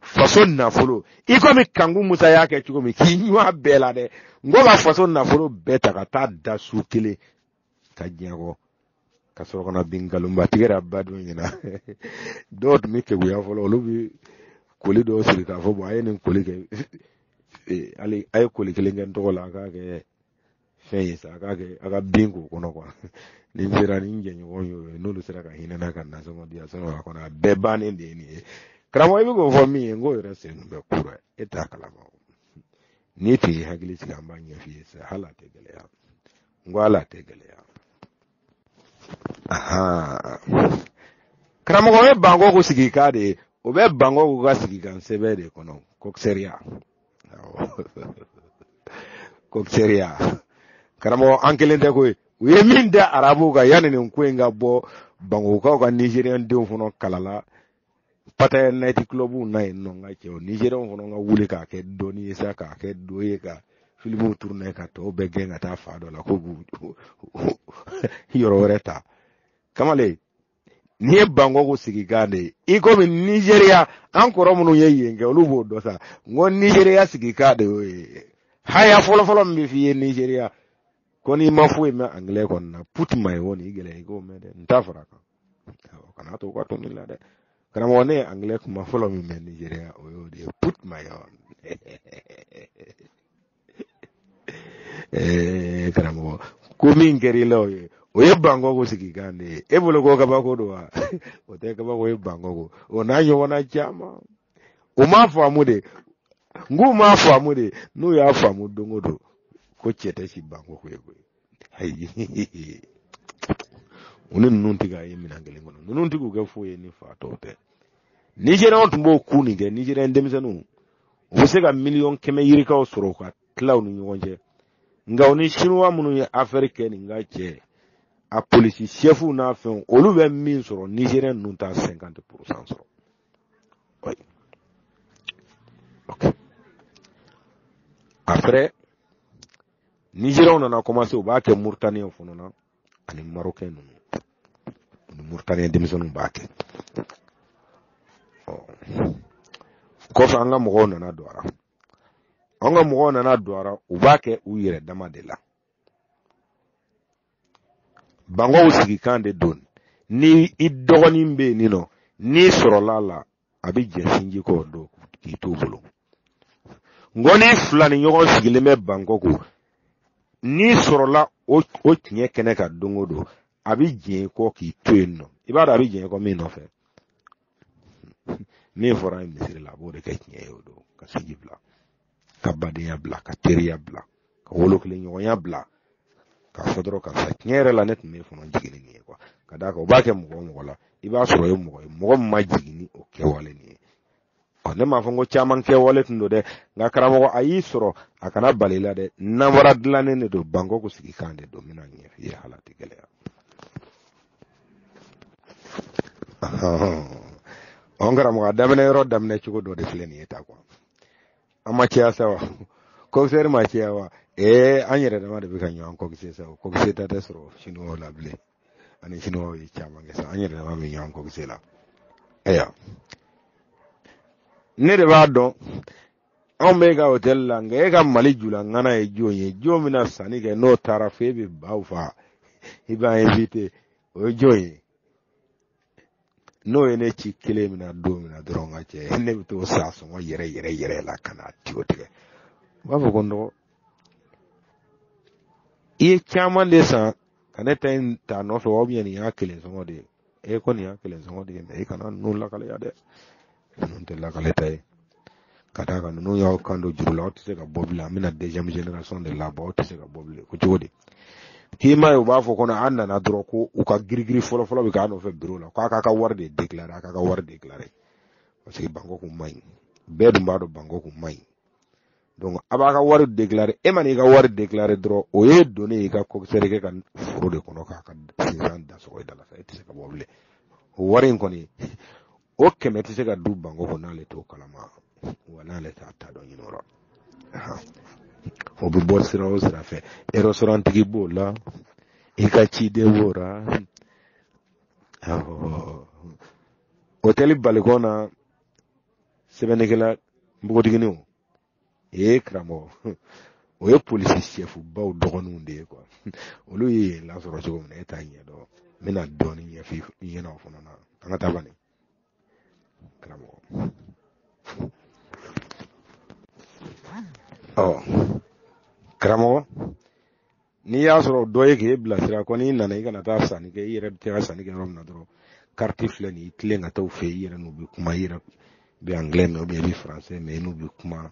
faso nafolo i komi kanku musa y'a kɛ cogo min k'i ɲɔ bɛɛ la dɛ n ko ka faso nafolo bɛɛ ta ka taa da su kelen ka diɲɛkɔ ka sɔrɔ ka na bin nkalonba tigɛra badon ɲɛna dɔw tun bɛ keguya fɔlɔ olu bɛ koli dɔw siri k'a fɔ bɔn a ye nin koli kɛ hali a ye koli kelen kɛ n tɔgɔ la a k'a kɛ fɛn ye sa a k'a kɛ a ka bin k'o kɔnɔ kuwa ni n sera ni n jɛɲɔgɔn y'o ye n'olu sera ka hinɛ n na ka nasɔngɔ di yan sɔrɔ a kɔnɔ a bɛɛ bannen de ye nin ye karamɔgɔ i bɛ k'o fɔ min ye n k'o yɛrɛ sen bɛ ku ra e t'a kalama o n'i tun y'i hakili sigi an b'a ɲɛf'i ye sa hali a tɛ gɛlɛya n ko hali a tɛ gɛlɛya karamɔgɔ ye bankɔko sigikan de ye o bɛ bankɔko ka sigikan sɛbɛn de kɔnɔ kɔkisɛriya waaw kɔkisɛriya karamɔgɔ an kelen tɛ koyi u ye min da arabuw kan yanni nin ko in ka bɔ bankɔkokaw ka nizeriyɛn denw fana kalala pataya night clubw na yen nɔ n ka cɛw nizeriyɛnw fana ka wuli k'a kɛ dɔɔni ye sa k'a kɛ do ye ka filimuw turunɛ ka tɔw bɛɛ gɛn ka taa fan dɔ la ko b'u yɔrɔ wɛrɛ ta kamalen n'i ye bankɔko sigikan de ye i komi nizeriya an kɔrɔ minnu ye yen kɛ olu b'o dɔn sa n ko nizeriya sigikan de y'o ye haya fɔlɔfɔlɔ min bɛ f'i ye nizeriya ko n'i ma foyi mɛn angilɛ kɔni na put my own nin gɛlɛya i k'o mɛn dɛ n ta fara a kan kana to u ka to min la dɛ karamɔgɔ ne ye angilɛ kuma fɔlɔ min mɛn nizeriya o y'o de ye put my own ee karamɔgɔ ko min kɛra i la o ye o ye bankɔko sigikan de ye e bolo ko kabako don wa o tɛ kabako ye bankɔko o n'a ɲɔgɔnna caman u m'a faamu de n k'u m'a faamu de n'u y'a faamu don o don ko cɛ tɛ si bankɔko yen koyi ayi u ni ninnu tɛ ka ye minɛn kelen kɔnɔ ninnu tɛ k'u kɛ foyi ye ni fatɔw tɛ nizeriyɛnw tun b'o ku nin kɛ nizeriyɛn denmisɛnninw u bɛ se ka miliyɔn kɛmɛ yirikaw sɔrɔ k'a tila u ni ɲɔgɔn cɛ nka u ni sinuwa minnu ye afɛri kɛ nin ka cɛ a polisi sɛfuw n'a fɛnw olu bɛ min sɔrɔ nizeriyɛn ninnu t'a sɛnkante purusan sɔrɔ apɛrɛ nizeriyaw nana kɔmanse u b'a kɛ murutaniyaw fana na ani marokɛ ninnu ni murutaniya denmisɛnninw b'a kɛ kɔfɛ an ka mɔgɔw nana don a ra an ka mɔgɔw nana don a ra u b'a kɛ u yɛrɛ dama de la bankɔko sigikan de don ni i dɔgɔnin bɛ yen nin nɔ n'i sɔrɔla la a bɛ jɛn sinji kɔ don k'i t'o bolo n ko n'i filani ɲɔgɔn sigilen bɛ bankɔko n'i sɔrɔla o o tiɲɛ kɛnɛ kan don o don a bɛ jɛn i kɔ k'i to yen nɔ i b'a dɔn a bɛ jɛn kɔ min nɔfɛ min fɔr'a ye misiri la a b'o de kɛ tiɲɛ ye o don ka sinji bila ka badenya bila ka teriya bila ka wolo kelen ɲɔgɔnya bila k'a fɔ dɔrɔn karisa tiɲɛ yɛrɛ la ne tun bɛ fana jigin nin ye kuwa ka d'a kan o b'a kɛ mɔgɔ o mɔgɔ la i b'a sɔrɔ o ye mɔgɔ ye mɔgɔ min ma jigin ni o kɛwale nin ye ɔ ne m'a fɔ n ko caman kɛwale tun don dɛ nka karamɔgɔ a y'i sɔrɔ a kana bal'i la dɛ namara dilannen de don bangkoko sigikan de don n bɛn'a ɲɛf'i ye hal'a tɛ gɛlɛya ɔ n karamɔgɔ a daminɛ yɔrɔ daminɛ cogo dɔ de filɛ nin ye tan kuwa an ma caya sa wa kɔkisɛri ma caya wa ee an yɛrɛ dama de bɛ ka ɲɔgɔn kɔkise sa o kɔkise ta tɛ sɔrɔ siniwaw la bilen ani siniwaw ye caman kɛ sa an yɛrɛ dama bɛ ɲɔgɔn kɔkise la ayiwa ne de b'a dɔn anw bɛ ka hotɛli la nka e ka mali jula ŋana ye jɔn ye jɔn bɛna sanni kɛ n'o taara fo e bɛ baw fa i b'a invite o ye jɔn ye n'o ye ne ci kelen min na don min na dɔrɔn n ka cɛ ne bɛ t'o san sɔngɔ yɛrɛ yɛrɛ yɛrɛ la ka na tiyo tigɛ u b'a fɔ ko n dɔgɔ i ye caman de san ka ne ta in ta nɔfɛ wa nin y'a kelen sɔngɔ de ye e ko nin y'a kelen sɔngɔ de ye mɛ i kana ninnu lakale yan dɛ ninnu tɛ lakaleta ye ka d'a kan ninnu y'aw kan don juru la aw tɛ se ka bɔ bilen an bɛna deuxième génération de labɔ aw tɛ se ka bɔ bilen ko cogo di k'i ma ye u b'a fɔ ko n'an nana dɔrɔn ko u ka girigiri fɔlɔfɔlɔ bɛ k'a nɔfɛ biro la k'a k'a ka wari de déclaré a k'a ka wari déclaré parce que bankɔko man ɲi bɛɛ dun b'a dɔn bankɔko man ɲi donc a b'a ka wari déclaré e man'i ka wari déclaré dɔrɔn o y'i donnen ye i ka coxeur kɛ ka foro de kɔnɔ k'a ka sinsan da sɔgɔ i da la sa e tɛ se ka bɔ bilen o wari in kɔni o kɛmɛ tɛ se ka don bankɔko n'ale t'o kalama wa n'ale t'a ta dɔn ɲinɛ o la o bɛ bɔ sira o sira fɛ ɛrɛsitorantigi b'o la i ka ciden b'o la otɛli balikɔn na sɛbɛnnikɛla npogotigininw ee karamɔgɔ o ye polisi sɛfubaw dɔgɔninw de ye kuwa olu ye yen lasɔrɔ cogo min na e t'a ɲɛdɔn n bɛna dɔɔnin ɲɛfɔ i ɲɛna o fana na an ka taa bani karamɔgɔ ɔ karamɔgɔ n'i y'a sɔrɔ dɔ ye k'e bilasira ko n'i nana i kana taa sanni kɛ i yɛrɛ bɛ taa ka sanni kɛ yɔrɔ min na dɔrɔn kariti filɛ nin i tilen ka taa u fɛ i yɛrɛ n'u bɛ kuma i yɛrɛ bɛ angilɛ mɛn ubiyɛn i bɛ faransɛ mɛn i n'u bɛ kuma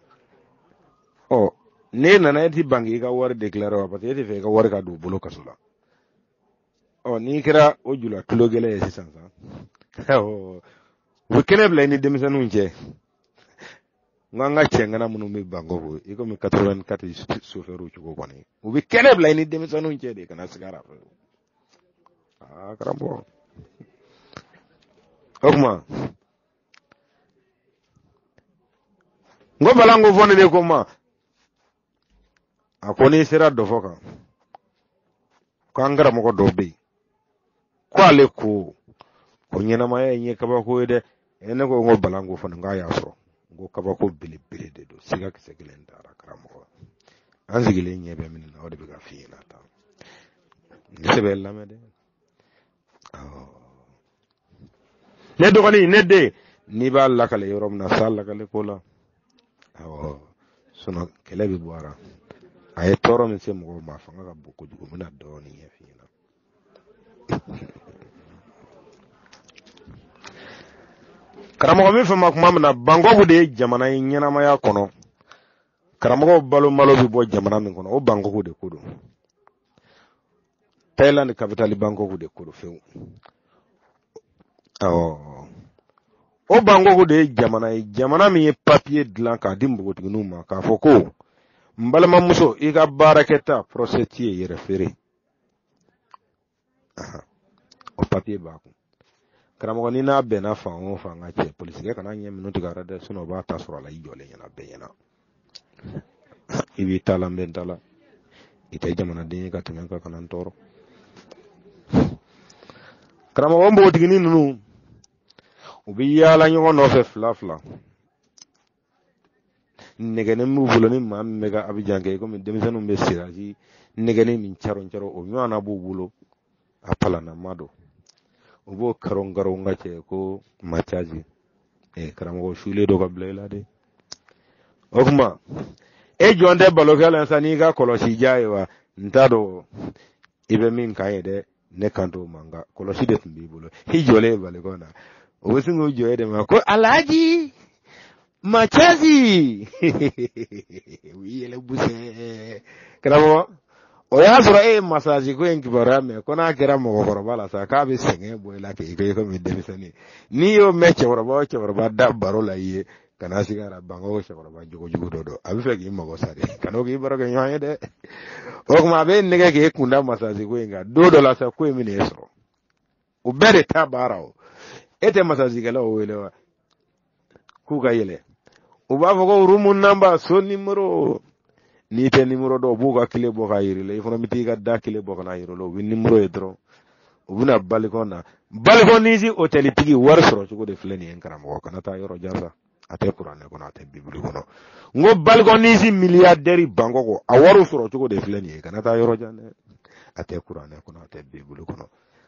ɔ n'e nana e ti ban k'i ka wari dekilare wa parce que e tɛ fɛ i ka wari ka don u bolo kaso la ɔ n'i kɛra o jula tulo gɛlɛn ye sisan sa u bɛ kɛnɛ bila i ni denmisɛnninw cɛ n ko an ka cɛŋana minnu bɛ bangɔku i komi 84 sofɛriw cogo kɔni u bɛ kɛnɛ bila i ni denmisɛnninw cɛ de kana siga a ra fewu aa karamɔgɔ o kuma n ko bala n ko fɔ ne de ko n ma a ko n'i sera dɔ fɔ kan ko an karamɔgɔ dɔw bɛ yen ko ale ko ko ɲɛnamaya in ye kabako ye dɛ e ne ko n ko bala n ko fana k'a y'a sɔrɔ n ko kabako belebele de don siga kisɛ kelen t'a ra karamɔgɔ an sigilen ɲɛ bɛ min na o de bɛ ka f'i ɲɛna tan ne sɛbɛn lamɛn dɛ ne dɔgɔnin ne den n'i b'a lakale yɔrɔ min na sa lakale ko la awɔ sinɔn kɛlɛ bɛ bɔ a la a ye tɔɔrɔ min se mɔgɔw ma a fanga ka bon kojugu n bɛna dɔɔnin ɲɛf'i ɲɛna karamɔgɔ min fɛn ma kuma min na bangɔku de ye jamana ye ɲɛnamaya kɔnɔ karamɔgɔw balo malo bɛ bɔ jamana min kɔnɔ o bangɔku de ko don thailand capital bangkok de ko don fewu o bangkok de ye jamana ye jamana min ye papiye dilan k'a di npogotigininw ma k'a fɔ ko n balimamuso i ka baarakɛta prostituée yɛrɛfeere o papiye b'a kun karamɔgɔ n'i n'a bɛnna fan o fan ka cɛ polisikɛ kana ɲɛ minnu tigɛ a la dɛ o b'a ta sɔrɔ a la i jɔlen ɲɛna bɛɛ ɲɛna i b'i ta la n bɛ n ta la i tɛ jamanaden ye ka tɛmɛ n kan kana n tɔɔrɔ karamɔgɔ npogotigini ninnu u bɛ yaala ɲɔgɔn nɔfɛ fila fila nɛgɛnin b'u bolo ni maa min bɛ ka abijan kɛ komi denmisɛnninw bɛ sirasi nɛgɛnin min caron caron o ɲɔgɔnna b'u bolo a palanama don u b'o karon karon ka cɛ ko masazi eh, karamɔgɔ sule dɔ ka bila i la de o kuma e jɔn tɛ balikɔn la sa n'i ka kolosi jan ye wa n t'a dɔn i bɛ min kan ye dɛ ne kan t'o ma nka kolosi de tun b'i bolo i jɔlen ye balikɔn na o bɛ sin k'o jɔ e de ma ko alhaji masazi u y'i yɛlɛ busɛ karamɔgɔ o y'a sɔrɔ e ye masazi ko in kibaruya mɛn ko n'a kɛra mɔgɔkɔrɔba la sa k'a bɛ sɛgɛn bɔ i la k'i kɛ komi denmisɛnnin n'i y'o mɛn cɛkɔrɔba o cɛkɔrɔba da baro la i ye kana sigi ara banga o cɛkɔrɔba jogojugu dɔ don a bɛ fɛ k'i mago sa de kan'o k'i barokɛɲɔgɔn ye dɛ o tuma a b'e nɛgɛn k'e kun da masazi ko in kan don dɔ la sa ko in bɛ n'e sɔrɔ o bɛɛ de ta baara o e tɛ masazikɛlaw wele wa k'u ka yɛlɛ u b'a fɔ ko room number so nimoro n'i tɛ nimoro dɔn u b'u ka kile bɔ k'a yir'i la i fana bɛ t'i ka da kile bɔ ka n'a yir'u la u bɛ nimoro ye dɔrɔn u bɛna balikɔn na balikɔn nisi otɛlitigi wari sɔrɔ cogo de filɛ nin ye karamɔgɔ kana taa yɔrɔ jan sa a tɛ kuranɛ kɔnɔ a tɛ bibili kɔnɔ n ko balikɔnisi miliyadɛri Bangkok a wariw sɔrɔ cogo de filɛ nin ye kana taa yɔrɔ jan dɛ a tɛ kuranɛ kɔnɔ a tɛ bibili kɔnɔ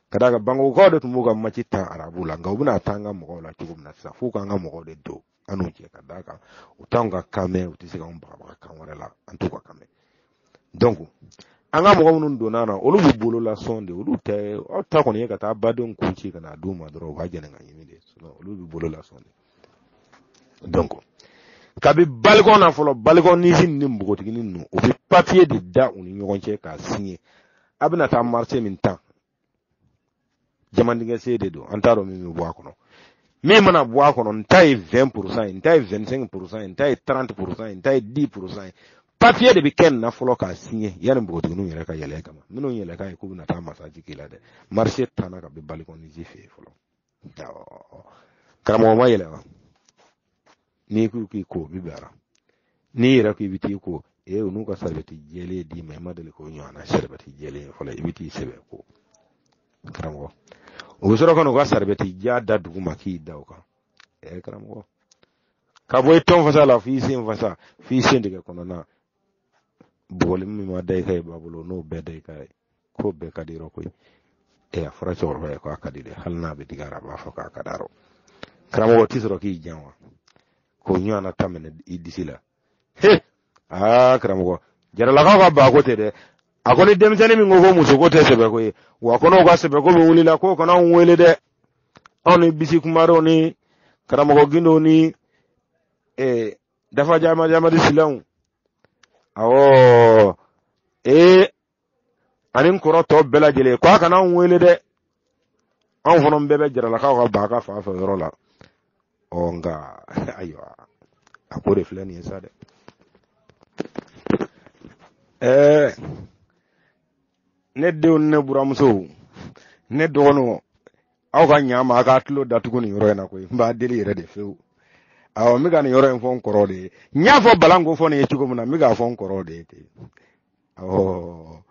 ka d'a kan Bangkokkaw de tun b'u ka match tan arabu la nka u bɛna taa an ka mɔgɔw la cogo min na sisan f'u k'an ka mɔgɔw de don an n'u cɛ ka d'a kan u t'anw ka kan mɛn u tɛ se k'anw bagabaga kan wɛrɛ la an t'u ka kan mɛn donc an ka mɔgɔ minnu donna na olu b'u bolo lasɔn de olu tɛ aw ta kɔni ye ka taa badenw kun ci ka na d'u ma dɔrɔn u k'a jɛni k'a ɲimi de olu b'u bolo lasɔn de donc kabi balikɔn na fɔlɔ balikɔn nisi ni npogotiginin ninnu u bɛ papiye de da u ni ɲɔgɔn cɛ k'a sinye a bɛna taa marché min tan jamandingɛ sen de don an t'a dɔn min bɛ bɔ a kɔnɔ min mana bɔ a kɔnɔ n ta ye 20 pourcent ye n ta ye 25 pourcent ye n ta ye 30 pourcent ye n ta ye 10 pourcent ye papiye de bɛ kɛ nin na fɔlɔ k'a sinye yanni npogotigininw yɛrɛ ka yɛlɛ kama minnu yɛlɛ k'a ye k'u bɛna taa masaji k'i la dɛ marché tanna kaban balikɔn nisi fɛ yen fɔlɔ karamɔgɔ ma yɛlɛ wa n'i ko k'i ko bi bilara n'i yɛrɛ ko i bɛ t'i ko e eh, u n'u ka saribɛti jɛlen d'i ma i ma deli k'o ɲɔgɔnna saribɛti jɛlen fɔlɔ i bɛ t'i sɛbɛ ko karamɔgɔ o bɛ sɔrɔ ka n'u ka saribɛti jan da dugu ma k'i da o kan ɛ eh, karamɔgɔ ka bɔ i tɔn fasa la f'i sen fasa f'i sentigɛ kɔnɔna bugɔli min ma da i kan yen b'a bolo n'o bɛɛ da i kan yen k'o bɛɛ ka di yɔrɔ koyi ɛ a fɔra cɛkɔrɔba ye k'a ka di dɛ hali n'a bɛ digi a ra a b'a fɔ k'a ka d'a rɔ karamɔgɔ tɛ sɔrɔ k'i jan wa k'o ɲɔgɔnna ta minɛ i disi la he aa karamɔgɔ jaralakaw ka baako tɛ dɛ a ko ni denmisɛnnin min ko ko musoko tɛ sɛbɛko ye wa ko n'o ka sɛbɛko bɛ wuli la k'o kana anw wele dɛ anw ni bisi kumarew ni karamɔgɔ gindow ni eh, dafa jama jamadi silaw awɔ ee ani n kɔrɔ tɔ bɛɛ lajɛlen ko a kana anw wele dɛ anw fana bɛɛ bɛ jaralakaw ka baa ka fan fɛ yɔrɔ la ɔ nka ayiwa a ko de filɛ nin ye sa dɛ ɛɛ ne denw ne buranmuso ne dɔgɔninw aw ka ɲa ma a ka tulo datugu nin yɔrɔ in na koyi n b'a deli yɛrɛ de fewu awɔ n bɛ ka nin yɔrɔ in fɔ n kɔrɔ de ye n y'a fɔ balan ko fɔ nin ye cogo min na n bɛ k'a fɔ n kɔrɔ de ye ten awɔ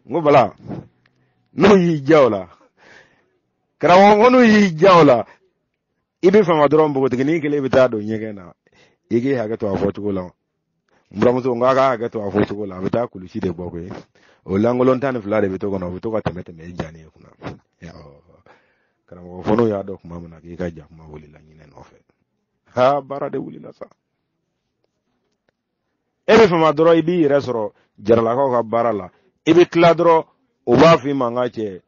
n ko bala n'u y'i diya o la karamɔgɔ ko n'u y'i diya o la i bɛ fama dɔrɔn npogotiginin kelen bɛ taa don ɲɛgɛn na i k'i hakɛ to a fɔcogo la buranmuso n k'a ka hakɛ to a fɔcogo la a bɛ taa kulusi de bɔ koyi o lankolon tan ni fila de bɛ to kɔnɔ o bɛ to ka tɛmɛ tɛmɛ i jani ye kunna karamɔgɔ fɔlɔ y'a dɔn kuma min na k'i ka jakuma wulila ɲinɛ nɔfɛ ha baara de wulila sa e bɛ fama dɔrɔn i b'i yɛrɛ sɔrɔ jaralakaw ka baara la i bɛ tila dɔrɔn o b'a f'i ma n ka cɛ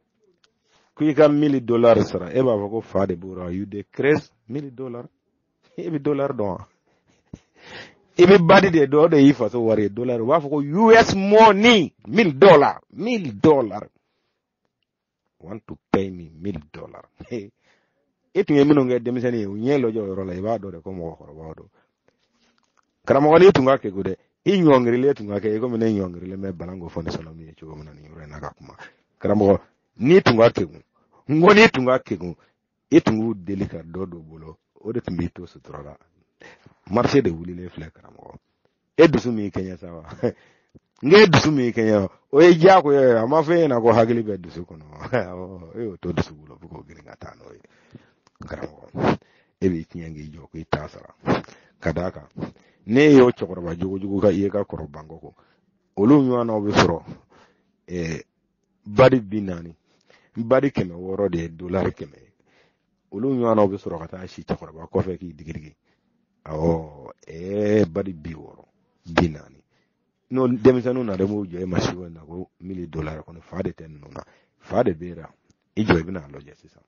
ko i ka mili dolari sara e b'a fɔ ko fa de b'o la you dey craze mili dolari i bɛ dolari dɔn wa i bɛ badi de dɔn o de y'i faso wari ye dolari u b'a fɔ ko us money mil dollar mil dollar want to pay me mil dollar e tun ye minnu kɛ denmisɛnnin ye u ɲɛ lajɛ o yɔrɔ la i b'a dɔn de ko mɔgɔkɔrɔbaw don karamɔgɔ n'i tun ka kekun dɛ i ɲɔngirilen tun ka kɛ i komi ne ɲɔngirilen bɛ bana ko fɔ ne sɔnna min ye cogo min na nin yɔrɔ in na ka kuma karamɔgɔ n'i tun ka kekun n ko n'i tun ka kekun e tun b'u deli ka dɔ don bolo o de tun b'i to sutura la marise de wulilen filɛ karamɔgɔ e dusu min kɛɲɛ sa wa nka e dusu min kɛɲɛ o ye diyagoya ye a ma fɔ e ɲɛna ko hakili bɛ dusu kɔnɔ e y'o to dusu bolo fo k'o girin ka taa n'o ye karamɔgɔ e b'i tiɲɛ k'i jɔ k'i t'a sara ka d'a kan ne y'o cɛkɔrɔba jogojugu ka i ye ka kɔrɔ bankɔki olu ɲɔgɔnnaw bɛ sɔrɔ badi bi naani badi kɛmɛ wɔɔrɔ de ye dolari kɛmɛ ye olu ɲɔgɔnnaw bɛ sɔrɔ ka taa si cɛkɔrɔba kɔfɛ k'i digidigi awɔ ɛɛ badi bi wɔɔrɔ bi naani n'o denmisɛnninw na de b'u jɔ e ma si na ko mili dolari ko fa de tɛ ninnu na fa de bɛ yen i jɔ i bɛna a lajɛ sisan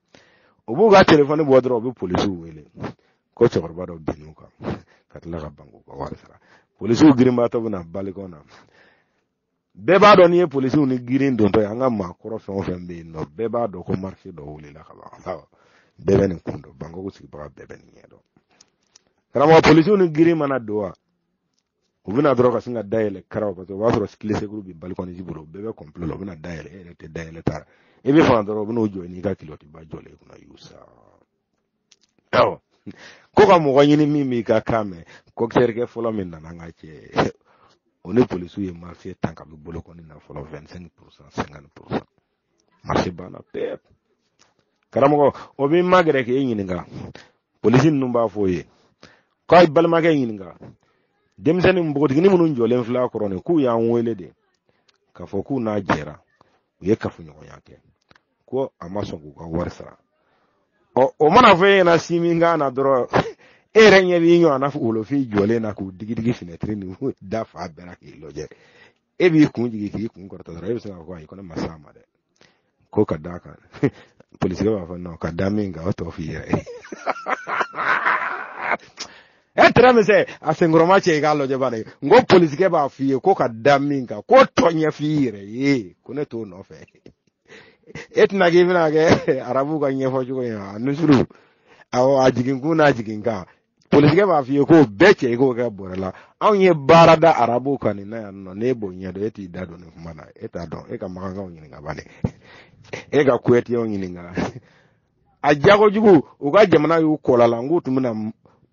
u b'u ka telefɔni bɔ dɔrɔn u bɛ polisiw wele ko cɛkɔrɔba dɔ binn'u kan ka tila ka ban k'u ka wari sara polisiw girinbaatɔ bɛ na balikɔn na bɛɛ b'a dɔn n'i ye polisiw ni girin dontɔ ye an ka maakɔrɔ fɛn o fɛn bɛ yen nɔ bɛɛ b'a dɔn ko marise dɔ wulila ka ban bɛɛ bɛ nin kun dɔn bankɔki sigibaga bɛɛ bɛ nin ɲɛ dɔn karamɔgɔ polisiw ni girin mana don wa u bɛ na dɔrɔn ka sin ka dayɛlɛ karaw paseke o b'a sɔrɔ kile sekuru bɛ balikɔni tigi bolo bɛɛ bɛ kɔnpulo la u bɛna dayɛlɛ e yɛrɛ tɛ dayɛlɛ ta i bɛ fama dɔrɔn u bɛ n'u jɔ n'i ka kilɔtiba jɔlen kunna y'u sa awɔ ko ka mɔgɔ ɲini min b'i ka kan mɛn kɔkisɛrikɛ fɔlɔ min nana n ka cɛ o ni polisiw ye marise tan ka bɛ bolokɔni na fɔlɔ 25 pourcent 50 pourcent marise banna pewu karamɔgɔ o b'i magɛrɛ k'e ɲininka polisi ninnu b'a fɔ o ye k'a y'i balimakɛ ɲininka denmisɛnnin npogotiginin minnu jɔlen filɛ a kɔrɔ nin k'u y'an wele de k'a fɔ k'u n'a jɛra u ye kafoɲɔgɔnya kɛ ko a ma sɔn k'u ka wari sara ɔ o mana fɔ e ɲɛna si min kan na dɔrɔn e yɛrɛ ɲɛ b'i ɲɔgɔn na wolofin jɔlen na k'u digidigi finɛtiri ni da fa bɛɛ la k'i lajɛ e b'i kun jigi k'i kun kɔrɔta dɔrɔn e bɛ se k'a fɔ ayi ko ne ma s'a ma dɛ ko ka d'a kan polisikɛ b'a fɔ nɔn ka da min kan o tɔ f'i yɛrɛ ye e tɛrɛ min sɛ a senkɔrɔma cɛ i k'a lajɛ bani n ko polisikɛ b'a f'i ye ko ka da min kan k'o tɔ ɲɛf'i yɛrɛ ye ko ne t'o nɔfɛ e tɛna k'i bɛna kɛ arabukan ɲɛfɔ cogo in na nusuru awɔ a jigin kun n'a jigin kan polisikɛ b'a f'i ye k'o bɛɛ cɛ i k'o kɛ bɔrɛ la anw ye baara da arabukan nin na yan nɔ n'e b'o ɲɛdɔn e t'i da don nin kuma na e t'a dɔn e ka makakaw ɲininka bani e ka kuwɛtiyɛnw ɲininka a jako jugu u ka jamana y'u kɔla la n k'u tun bɛna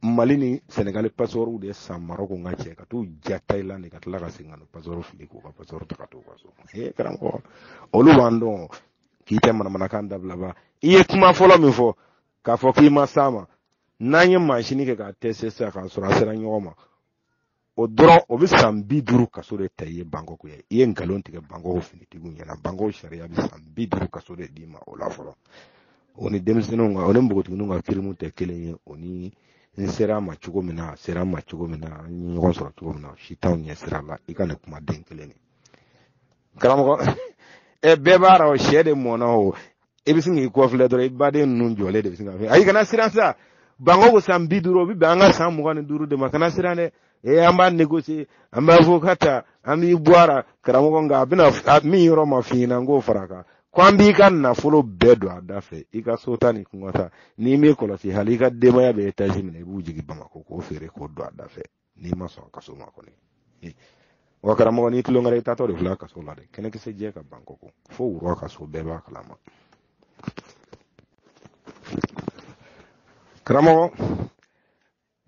mali ni sɛnɛgali pasɔrɔw de san marɔku n ka cɛ ka t'u ja tayilandi ka tila ka segin ka na pasɔrɔ fili k'u ka pasɔrɔ ta ka t'u ka so ee karamɔgɔ olu b'an dɔn k'i tɛ manamanakan dabila ba i ye kuma fɔlɔ min fɔ k'a fɔ k'i ma s'a ma n'an ye mansini kɛ k'a tɛse sisan k'a sɔrɔ a sera ɲɔgɔn ma o dɔrɔn o bɛ san bi duuru kaso de ta i ye bangkok ye i ye nkalon tigɛ bangkok finitigiw ɲɛna bangkok sariya bɛ san bi duuru kaso de d'i ma o la fɔlɔ o ni denmisɛnninw ka o ni npogotigininw ka kirimu tɛ kelen ye o ni n sera a ma cogo min na a sera n ma cogo min na an ye ɲɔgɔn sɔrɔ cogo min na si t'anw ɲɛsira la i ka nin kumaden kelen nin karamɔgɔ ɛ bɛɛ b'a ra o sɛ de mɔnɔ o i bɛ sin k'i kɔfilɛ dɔrɔn i baden ninnu jɔlen de bɛ sin k'a fɔ ayi kana siran sa bangkok san bi duuru o bɛ bɛn an ka san mugan ni duuru de ma kana siran dɛ ee an b'a négocier an b'a fɔ ka ta an b'i bɔ a la karamɔgɔ nka a bɛna min yɔrɔ ma f'i ɲɛna n k'o fara a kan ko an b'i ka nafolo bɛɛ don a da fɛ i ka so ta ni kungo ta n'i m'i kɔlɔsi hali i ka denbaya bɛ etazi min na i b'u jigin bamakɔ k'o feere k'o don a da fɛ n'i ma sɔn kaso ma kɔni wa karamɔgɔ n'i tulon kɛra i taatɔ de filɛ kaso la dɛ kɛnɛkisɛ jɛ ka ban n ko fo wura kaso bɛɛ b'a kalama karamɔgɔ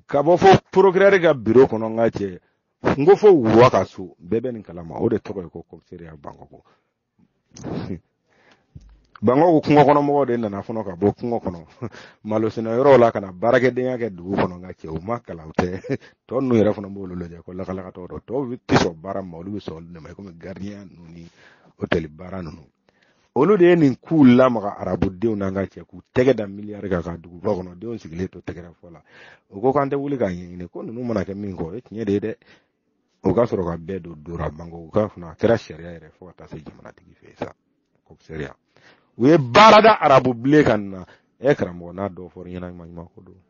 ka bɔ fo porokirɛri ka biro kɔnɔ n ka cɛ n ko fo wura kaso bɛɛ bɛ nin kalama o de tɔgɔ ye ko kɔkisɛriya bangkok Bangkok kungokɔnɔmɔgɔw de nana fɔlɔ ka bɔ kungo kɔnɔ malosɛnɛ yɔrɔw la ka na baarakɛdenya kɛ dugu kɔnɔ n ka cɛ u ma kalan tɛ tɔ ninnu yɛrɛ fana b'olu lajɛ ko lakalakatɔ don tɔw tɛ sɔn baara ma olu bɛ sɔn olu ma komi gardien ninnu ni otɛli baara ninnu olu de ye nin k'u lamaga arabudenw na ka cɛ k'u tɛgɛ da miliyari kan ka duguba kɔnɔ denw sigilen to tɛgɛrɛ fɔ la u ko k'an tɛ wuli k'a ɲɛɲini ko ninnu mana kɛ min kɔ o ye tiɲɛ de ye dɛ o ka sɔrɔ ka bɛɛ don dora Bangkok ka fana a kɛra sariya yɛrɛ fo ka taa se jamanatigi fɛ sa ko sariya u ye baara da arabu bilen kan na ɛ karamɔgɔ n'a dɔw fɔra ɲɛna ɲuman ɲuman ko don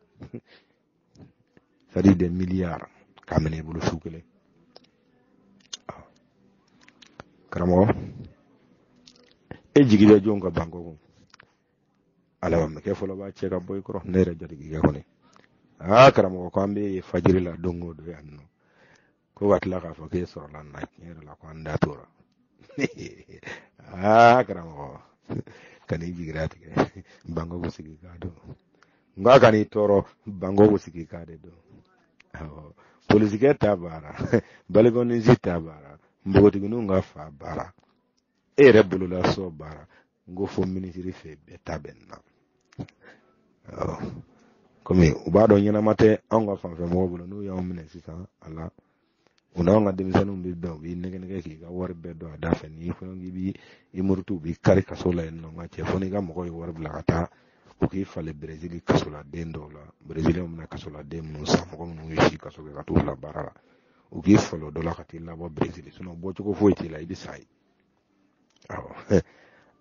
sadi de miliyari k'a minɛ i bolo su kelen karamɔgɔ e jigi bɛ jɔn kan Bangkok ala b'a kɛ fɔlɔ b'a cɛ ka bɔ i kɔrɔ ne yɛrɛ jatigikɛ kɔni aa karamɔgɔ ko an bɛ fajiri la don o don yan nɔ ko ka tila k'a fɔ k'e sɔrɔla na tiɲɛ yɛrɛ la ko an da tora aa karamɔgɔ kan'i jigira tigɛ Bangkok bɛ sigi k'a dɔn nka kan'i tɔɔrɔ Bangkok bɛ sigi k'a de dɔn awɔ polisikɛ ta baara balikɔninsi ta baara npogotigininw ka fa baara e yɛrɛ bololasɔ baara n ko fo minisiri fɛ bɛɛ ta bɛ na kɔmi u b'a dɔn ɲɛnama tɛ anw ka fanfɛ mɔgɔw bolo n'u y'anw minɛ sisan a la u n'anw ka denmisɛnninw bɛ bɛn u b'i nɛgɛ nɛgɛ k'i ka wari bɛɛ don a da fɛ n'i fana k'i b'i murutu u b'i kari kaso la yen nɔ n ka cɛ fo n'i ka mɔgɔw ye wari bila ka taa u k'i falen berezili kasoladen dɔw la bereziliw bɛ na kasoladen minnu san mɔgɔ minnu ye si kaso kɛ ka t'u bila baara la u k'i falen o dɔ la ka t'i labɔ berezili bɔcogo foyi t'i la i bɛ sa ye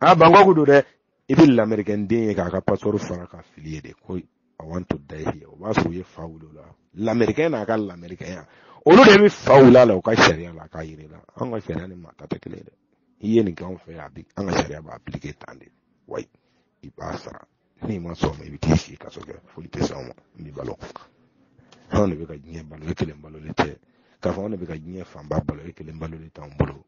a Bangkok don dɛ i bɛ lamerikɛn den ye k'a ka pasipɔri fara ka fili ye de ko I want to die here o b'a sɔrɔ u ye fa wuli o la lamerikɛn n'a ka lamerikɛnya olu de bɛ fa wuli a la u ka sariya la k'a yir'i la an ka sariya ni maa ta tɛ kelen ye dɛ i ye nin kɛ anw fɛ yan an ka sariya b'a appliquer tan de wa i b'a sara n'i ma sɔn ma i bɛ t'i si kaso kɛ foli tɛ s'anw ma n b'i balo anw de bɛ ka diɲɛ balo e kelen balo de tɛ k'a fɔ anw de bɛ ka diɲɛ fanba balo e kelen balo de t'anw bolo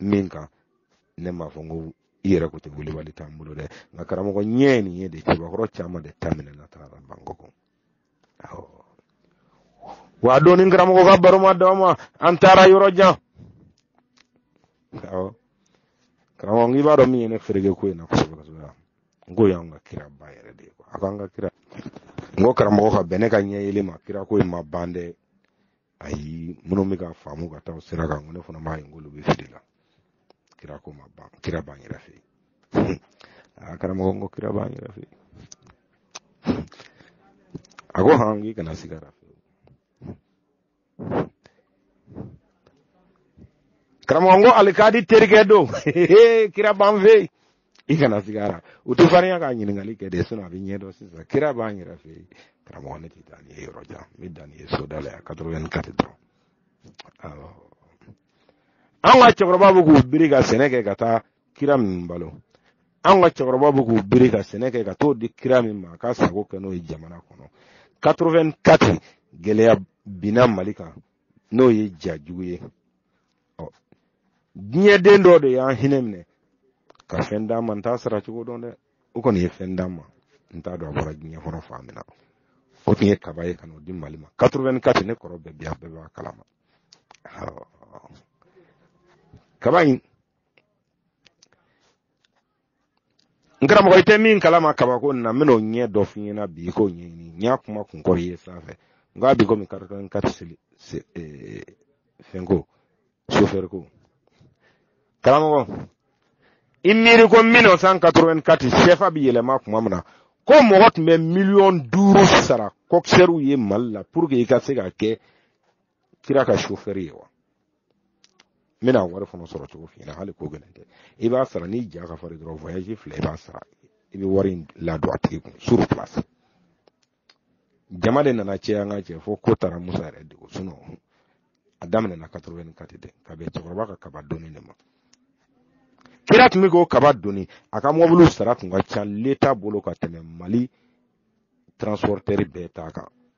min kan ne m'a fɔ n ko i yɛrɛ ko tɛ welewele t'an bolo dɛ nka karamɔgɔ ɲɛ ye nin ye de cɛbakɔrɔ caman de ta minɛna taara Bangkok wa dɔɔni karamɔgɔ ka baro ma d'a ma an taara yɔrɔ jan awɔ karamɔgɔ n'i b'a dɔn min ye ne fereke ko in na kosɛbɛ kosɛbɛ n ko y'an ka kira ba yɛrɛ de ye a k'an ka kira n ko karamɔgɔ ka bɛn ne ka ɲɛ yɛlɛn ma kira ko in ma ban dɛ ayi minnu bɛ ka faamu ka taa sira kan ko ne fana b'a ye k'olu bɛ fili la kira ko ma ban kira b'an yɛrɛ fɛ yen a karamɔgɔ n ko kira b'an yɛrɛ fɛ yen a ko han k'i kana sig'a ra karamɔgɔ n ko alikadi terikɛ don kira b'an fɛ yen i kana sig'a ra u tɛ farinya ka ɲininkali kɛ de sinɔn a bɛ ɲɛdɔn sisan kira b'an yɛrɛ fɛ yen karamɔgɔ ne tɛ taa n'i ye yɔrɔ jan n bɛ dan n'i ye soda la yan quatre-vingt-quatre dɔrɔn awɔ an ka cɛkɔrɔba bɛ k'u biri ka sɛnɛ kɛ ka taa kira min balo an ka cɛkɔrɔba bɛ k'u biri ka sɛnɛ kɛ ka t'o di kira min ma a k'a sago kɛ n'o ye jamana kɔnɔ quatre-vingt-quatre gɛlɛya binna mali kan n'o ye ja jugu ye ɔ diɲɛden dɔ de y'an hinɛ minɛ ka fɛn d'an ma n t'a sara cogo dɔn dɛ o kɔni ye fɛn d'an ma n t'a dɔn a bɔra diɲɛ kɔnɔ fan min na o tun ye kaba ye ka n'o di mali ma 84 ne kɔrɔ bɛɛ bi a bɛɛ b'a kalama kaba in n karamɔgɔ i tɛ min kalama kabako na n bɛn'o ɲɛ dɔ f'i ɲɛna bi i k'o ɲɛɲini n y'a kuma kun kɔrɔ ye sanfɛ n k'a bi komi kari kari kari seli eh, fɛnko sofɛriko karamɔgɔ i miiri ko 1984 sɛfa bi yɛlɛma tuma min na ko mɔgɔ tun bɛ miliyɔn duuru sara kɔkisɛriw ye mali la pour que i ka se ka kɛ kira ka chauffeur ye wa n bɛna wari fana sɔrɔ cogo f'i ɲɛna hali ko gɛlɛn tɛ i b'a sara n'i ja ka farin dɔrɔn voyage fila i b'a sara i bɛ wari in ladon a tigi kun sur place jama de nana cɛ an ka cɛ fo ko taara musa yɛrɛ degun sinɔn a daminɛna quatre-vingt-quatre de ka bɛn cɛkɔrɔba ka kaba doni de ma kira tun bɛ k'o kaba doni a ka mɔbiliw sara tun ka ca l'état bolo ka tɛmɛ mali transporteur bɛɛ ta kan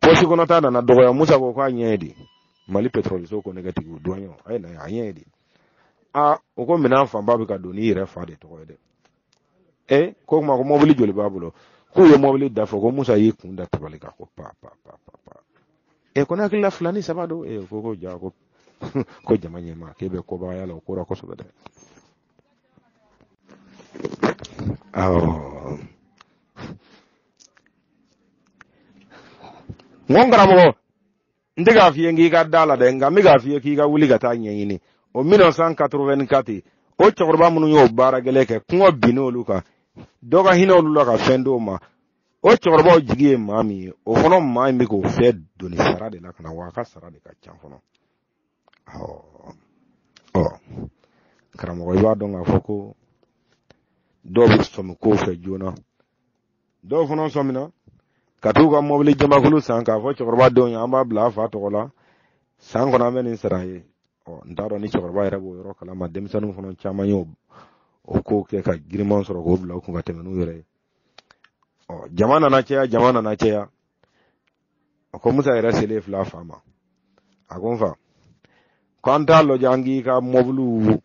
pɔsi kɔnɔ ta nana dɔgɔya musa ko k'a ɲɛ ye di mali pɛtrɔliso ko négatif o douanier a ye na a ɲɛ ye di a o ko minɛn fanba bɛ ka don n'i yɛrɛ fa de tɔgɔ ye dɛ e ko kuma ko mɔbili joli b'a bolo k'u ye mɔbili da fɔ ko musa y'i kun da tabali kan ko pa pa pa pa pa e ko ne hakili la fila ni saba don e ko ko ja ko ko jama ɲɛma k'e bɛ kɔbagaya la o ko la kosɛbɛ dɛ awɔ n ko n karamɔgɔ n tɛ k'a f'i ye k'i ka d'a la dɛ nka n bɛ k'a f'i ye k'i ka wuli ka t'a ɲɛɲini o 1984 o cɛkɔrɔba minnu y'o baara gɛlɛn kɛ kɔngɔ binna olu kan dɔ ka hinɛ olu la ka fɛn d'o ma o cɛkɔrɔbaw jigi ye maa min ye o fana maa in bɛ k'o fɛn doni sara de la ka na wa a ka sara de ka ca fana ɔ karamɔgɔ i b'a dɔn k'a fɔ ko dɔw bɛ sɔmi kow fɛ joona dɔw fana sɔmina ka t'u ka mɔbili jamakulu san k'a fɔ cɛkɔrɔba denw ye an b'a bila a fa tɔgɔ la san kɔnɔ an bɛ nin sara ye ɔ n t'a dɔn ni cɛkɔrɔba yɛrɛ b'o yɔrɔ kalama denmisɛnninw fana caman ye o ko kɛ ka giriman sɔrɔ k'o bila u kun ka tɛmɛ n'u yɛrɛ ye ɔ jama nana caya jama nana caya a ko musa yɛrɛ selen fil'a fa ma a ko n fa ko an t'a lajɛ an k'i ka mɔbiliw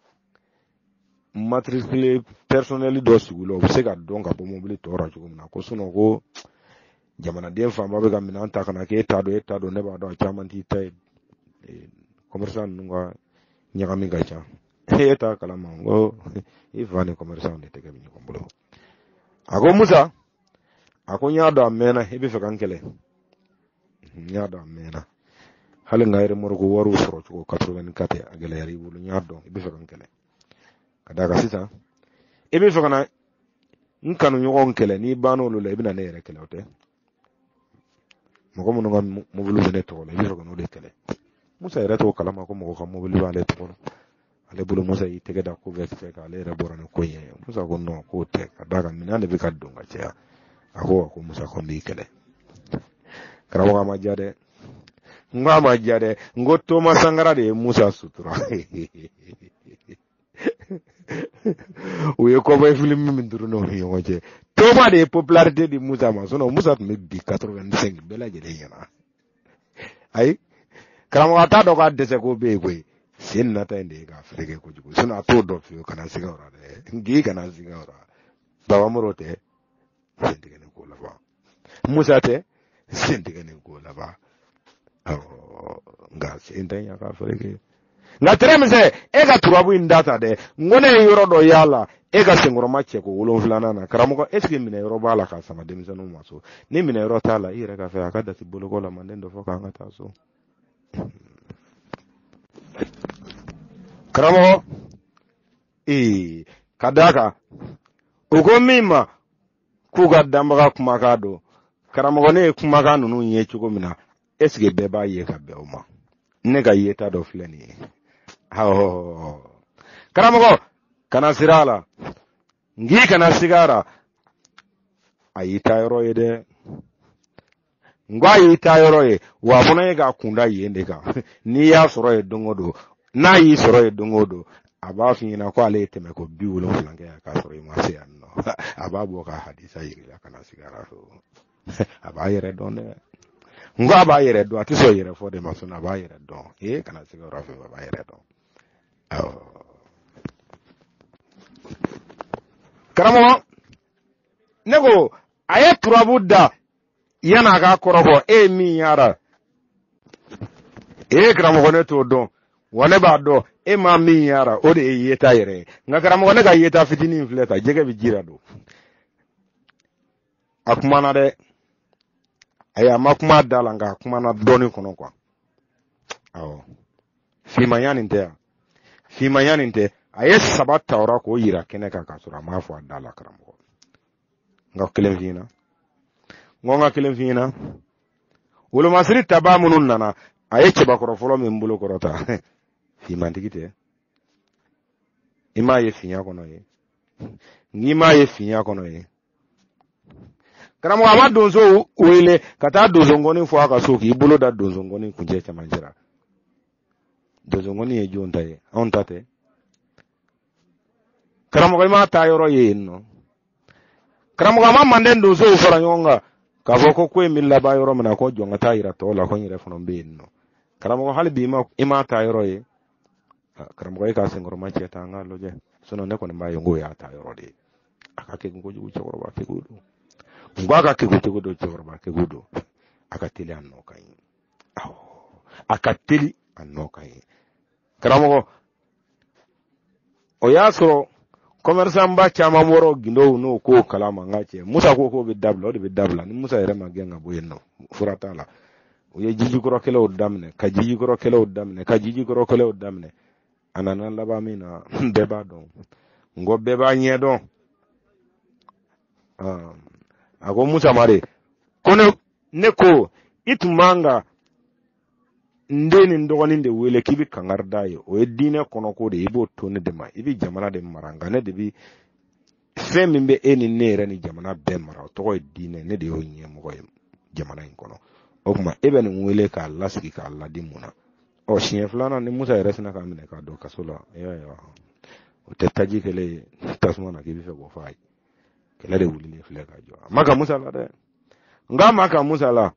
matricule personnel dɔ sigi la o bɛ se ka dɔn ka bɔ mɔbili tɔw la cogo min na ko sinon ko jamanaden fanba bɛ ka minɛn ta ka na k'e t'a dɔn e t'a dɔn ne b'a dɔn a caman t'i ta ye commerçant ninnu ka ɲagami ka ca e t'a kalama n ko i fa ni commerçant de tɛgɛ bɛ ɲɔgɔn bolo a ko musa a ko n y'a dɔn a mɛnna i bɛ fɛ ka n kɛlɛ n y'a dɔn a mɛnna hali n ka remorque wariw sɔrɔ cogo 84 a gɛlɛyara i bolo n y'a dɔn i bɛ fɛ ka n kɛlɛ ka d'a kan sisan i bɛ fɛ ka na n kanuɲɔgɔn kɛlɛ n'i banna olu la i bɛna ne yɛrɛ kɛlɛ o tɛ mɔgɔ minnu ka mobili bɛ ne tɔgɔ la i bɛ fɛ ka n'o de kɛlɛ musa yɛrɛ t'o kalama ko mɔgɔ ka mobili b'ale tɔgɔ la ale bolo musa y'i tɛgɛ da ko bɛɛ fɛ k'ale yɛrɛ bɔra ni ko in ye musa ko non k'o tɛ ka d'a kan minɛn de bɛ ka don ka caya a ko ko musa ko n b'i kɛlɛ karamɔgɔ a ma diya dɛ n ko a ma diya dɛ n ko toma sankara de ye musa sutura u ye cowboy filimu min turu n'o ni ɲɔgɔn cɛ toma de ye popularité di musa ma sinon musa tun bɛ bin 85 bɛɛ lajɛlen ɲɛna ayi karamɔgɔ a t'a dɔn k'a dɛsɛ ko bɛ yen koyi sen nata in de ye k'a fereke kojugu sinon a t'o dɔn fiyewu kana siga o la dɛ n k'i kana siga o la baba moro tɛ sen tigɛlen ko laban musa tɛ sen tigɛlen ko laban awɔ nka sen tɛ yan k'a fereke nka tɛrɛmisɛ e ka turabu in data dɛ n ko ne ye yɔrɔ dɔ y'a la e ka senkɔrɔma cɛ ko wolonfilanan na karamɔgɔ est ce que minɛ yɔrɔ b'a la k'a sama denmisɛnninw ma so ni minɛ yɔrɔ t'a la i yɛrɛ ka fɛ a ka dati bolokɔ la manden dɔ fɔ k'an ka taa so karamɔgɔ ee ka d'a kan u ko min ma k'u ka danbaga kumakan don karamɔgɔ ne ye kumakan ninnu ye cogo min na est ce que bɛɛ b'a ye ka bɛn o ma ne ka yeta dɔ filɛ nin ye karamɔgɔ kana siran a la n k'i kana siga a la a y'i ta yɔrɔ ye dɛ n ko a y'i ta yɔrɔ ye wa a fana ye k'a kunda yen de kan n'i y'a sɔrɔ yen don o don n'a y'i sɔrɔ yen don o don a b'a f'i ɲɛna ko ale ye tɛmɛ ko bi wolonwula kɛ yan k'a sɔrɔ i ma se yan nɔ a b'a bɔ ka hadisa yir'i la ka na sigi araso a b'a yɛrɛ dɔn dɛ n ko a b'a yɛrɛ dɔn a tɛ sɔn yɛrɛ fɔ de ma sɔn a b'a yɛrɛ dɔn ee kana se yɔrɔ fɛ a b'a yɛrɛ dɔn karamɔgɔ ne ko a ye turabu da yan a ka kɔrɔbɔ e ye min y'a la ee karamɔgɔ ne t'o dɔn wa ne b'a dɔn e ma min y'a la o de ye yeta yɛrɛ ye nka karamɔgɔ ne ka yeta fitinin filɛ ta jɛgɛ bɛ ji la don a kumana dɛ ayi a ma kuma da la nka a kumana dɔɔni kɔnɔ kuwa awɔ fimanya nin tɛ yan fimanya nin tɛ a ye saba ta o la k'o yira kɛnɛ kan k'a sɔrɔ a m'a fɔ a da la karamɔgɔ n ka kelen f'i ɲɛna n ko n ka kelen f'i ɲɛna wolomasiri tabaa minnu nana a ye cɛbakɔrɔ fɔlɔ min bolo kɔrɔta fimantigi tɛ i m'a ye finya kɔnɔ ye n'i m'a ye finya kɔnɔ ye karamɔgɔ a ma donso wele ka taa donso ngɔni fɔ a ka so k'i bolo da donso ngɔni kuncɛ cɛmancɛ la donso ngɔni ye jɔn ta ye anw ta tɛ karamɔgɔ i m'a taa yɔrɔ ye yen nɔ karamɔgɔ a ma manden donsow fara ɲɔgɔn kan k'a fɔ ko ko in bɛ laban yɔrɔ min na ko jɔn k'a ta yira tɔw la ko n yɛrɛ fana bɛ yen nɔ karamɔgɔ hali bi i m'a taa yɔrɔ ye karamɔgɔ e k'a senkɔrɔma cɛ ta an k'a lajɛ ne kɔni b'a ye n k'o y'a taa yɔrɔ de ye a ka kekun kojugu cɛkɔrɔba kɛko don n ko a ka kɛko cogo don cɛkɔrɔba kɛko don a ka teli a nɔ ka ɲi awɔ a ka teli a nɔ ka ɲi karamɔgɔ o y'a sɔrɔ kɔmɛrisanba caman bɔra gindow n'o ko kalama n ka cɛ musa ko k'o bɛ dabila o de bɛ dabila ni musa yɛrɛ ma gɛn ka bɔ yen nɔ fura t'a la u ye jijukɔrɔkɛlɛw daminɛ ka jijukɔrɔkɛlɛw daminɛ ka jijukɔrɔkɛlɛw daminɛ a nana laban min na bɛɛ b'a dɔn n ko bɛɛ b'a ɲɛ dɔn a ko musa ma de ko ne ne ko i tun man ka n den ni n dɔgɔnin de wele k'i bɛ kangari d'a ye o ye diinɛ kɔnɔko de ye i b'o to ne de ma i bɛ jamana de mara nka ne de bɛ fɛn min bɛ e ni ne yɛrɛ ni jamana bɛɛ mara o tɔgɔ ye diinɛ ne de y'o ɲɛmɔgɔ ye jamana in kɔnɔ o tuma e bɛ nin wele k'a lasigi k'a laadi mun na ɔ siɲɛ filanan ni musa yɛrɛ sina k'a minɛ k'a don kaso la o tɛ taji kɛlen ye tasuma na k'i b'a fɛ k'o faga kɛlɛ de wulilen filɛ ka jɔ a ma ka musa la dɛ n k'a ma ka musa la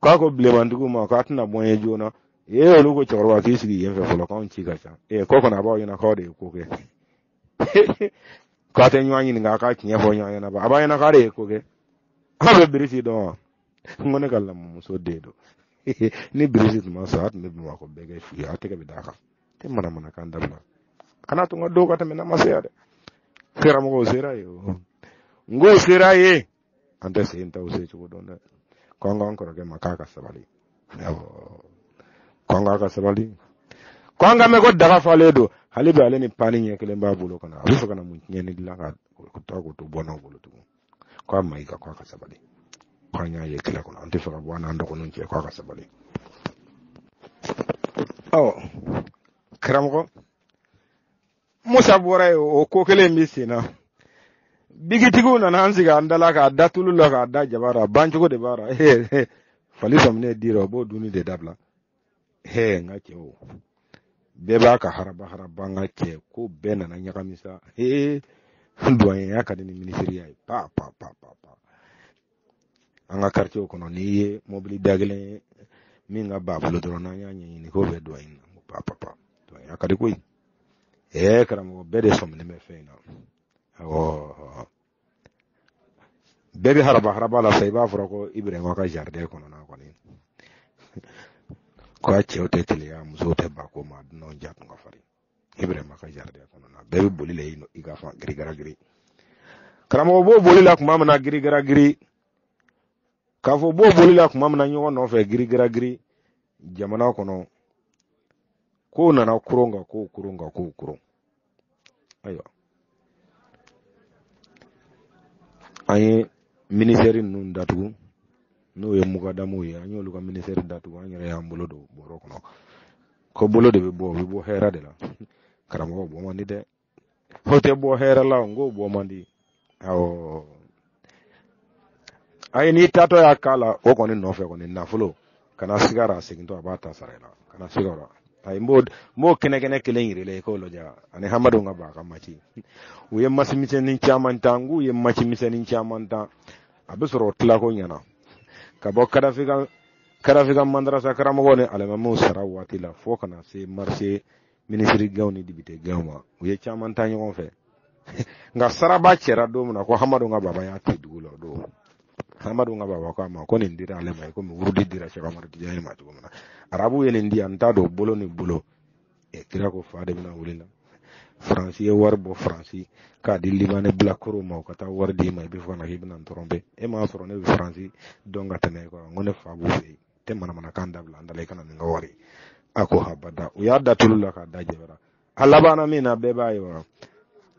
k'a ko bilemantigiw ma k'a tɛna bɔ n ye joona e olu ko cɛkɔrɔba k'i sigi yen fɛ fɔlɔ k'anw ci ka ca ee ko kɔni a b'aw ɲɛna k'aw de ye ko kɛ k'a tɛ ɲɔgɔn ɲininka a ka tiɲɛ fɔ ɲɔgɔn ɲɛna ba a b'a ɲɛna k'a de ye ko kɛ aw bɛ birisi dɔn wa n ko ne ka lamɔmuso den don ni birisi tun ma sɔn a tun bɛ bamakɔ bɛɛ kɛ fu ye a tɛgɛ bɛ d'a kan tɛ manamanakan dabila kana to n ka dɔw ka tɛmɛ n'a ma se yan dɛ karamɔgɔw sera yen o n k'o sera yen an tɛ sen ta o se cogo dɔn dɛ k'an k'an kɔrɔkɛ ma k'a ka sabali k'an k'a ka sabali k'an k'a mɛn ko daga falen don hali bi ale ni pani ɲɛ kelen b'a bolo kana a bɛ fɛ ka na mun tiɲɛni dilan ka taa k'o to bɔnnaw bolo tugun k'a ma i ka k'a ka sabali k'an y'a ye kɛlɛ kɔnɔ an tɛ fɛ ka bɔ an n'an dɔgɔninw cɛ k'a ka sabali ɔ karamɔgɔ musa bɔra ye o ko kelen bɛ sen na bigitigiw nana an sigi an dala k'a da tulu la k'a da jaba la bancogo de b'a la fali sɔminen d'i ra o b'o dunni de dabila hee n ka cɛ o bɛɛ b'a ka haraba haraba n ka cɛ ko bɛɛ nana ɲagami sa hee duwanyenya ka di ni minisiriya ye pa pa pa pa pa an ka karitiye kɔnɔ n'i ye mobili da kelen ye min ka baa bolo dɔrɔn n'an y'a ɲɛɲini k'o bɛ duwani na ko pa pa pa duwanyenya ka di koyi ɛɛ karamɔgɔ bɛɛ de sɔminen bɛ fɛn in na awɔ bɛɛ bɛ haraba haraba la sa i b'a fɔra ko iburahima ka zaridɛn kɔnɔna kɔni ko a cɛw tɛ teliya musow tɛ ba ko ma dunanw ja tun ka farin iburahima ka zaridɛn kɔnɔna bɛɛ bɛ boli la i ka fa girigara giri karamɔgɔ b'o boli la tuma min na girigara giri k'a fɔ b'o boli la tuma min na ɲɔgɔn nɔfɛ girigara giri jamana kɔnɔ k'o nana koron ka k'o koron ka k'o koron ayiwa an ye minisɛri ninnu datugu n'o ye mugadamu ye an y'olu ka minisɛri datugu an yɛrɛ y'an bolo don bɔrɔ kɔnɔ ko bolo de bɛ bɔ o bɛ bɔ hɛra de la karamɔgɔ bɔ man di dɛ o tɛ bɔ hɛra la n ko bɔ man di awɔ ayi n'i taatɔ y'a k'a la o kɔni nɔfɛ kɔni nafolo kana siga a ra a segintɔ a b'a ta sara i la kana siga a ra ayi n b'o n b'o kɛnɛkɛnɛ kelen yir'i la i k'o lajɛ ani hamadu ka ba ka mati u ye masi misɛnnin caman ta n k'u ye masi misɛnnin caman ta a bɛ sɔrɔ o tila ko ɲɛna ka bɔ kadafi ka kadafi ka madarasa karamɔgɔ ni alimamiw sara waati la fo ka na se marisi minisiri gaw ni depite gaw ma u ye caman ta ɲɔgɔn fɛ nka saraba cɛra don min na ko hamadu ka baba y'a ti dugu la o don hamadu ka baba ko a ma ko nin dira ale ma komi wurudi dira sɛki amadu tijani ma cogo min na arabu ye nin di yan n t'a dɔn bolo ni bolo e kira ko fa de bɛna wuli la faransi ye wari bɔ faransi k'a di libanɛ bilakoro ma u ka taa wari di ma i bɛ fɔ ka na k'i bɛna n tromper e m'a sɔrɔ ne bɛ faransi dɔn ka tɛmɛ e kan n ko ne fa b'u fɛ yen tɛ manamanakan dabila an da la i kana nin ka wari a ko habada u y'a da tulu la k'a da jɛbɛra a labanna min na bɛɛ b'a ye wa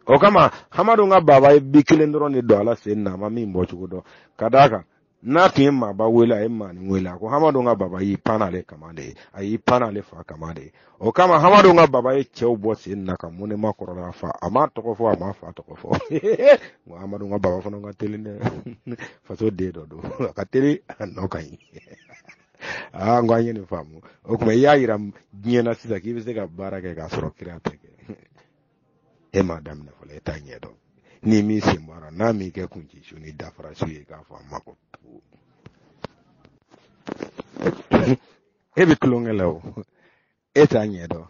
o kama hamadu ka baba ye bi kelen dɔrɔn de don ala sen na a ma min bɔ cogo dɔn ka d'a kan n'a tun ye maaba wele a ye maanin wele a ko hamadu ka baba y'i pan ale kama de ye a y'i pan ale fa kama de ye o kama hamadu ka baba ye cɛw bɔ sen na ka mun ne ma kɔrɔla fa a ma tɔgɔ fɔ a ma fa tɔgɔ fɔ nka hamadu ka baba fana ka teli dɛ faso den dɔ don a ka teli a nɔ ka ɲi aa ah, n ko an ye nin faamu o tuma i y'a yira diɲɛ na sisan k'i bɛ se ka baara kɛ k'a sɔrɔ kira tɛ kɛ e m'a daminɛ fɔlɔ e t'a ɲɛ dɔn ni min sen bɔra n'a m'i kɛ kun ci su ni dafara su ye k'a fɔ a ma ko e bɛ tulonkɛ la o e t'a ɲɛ dɔn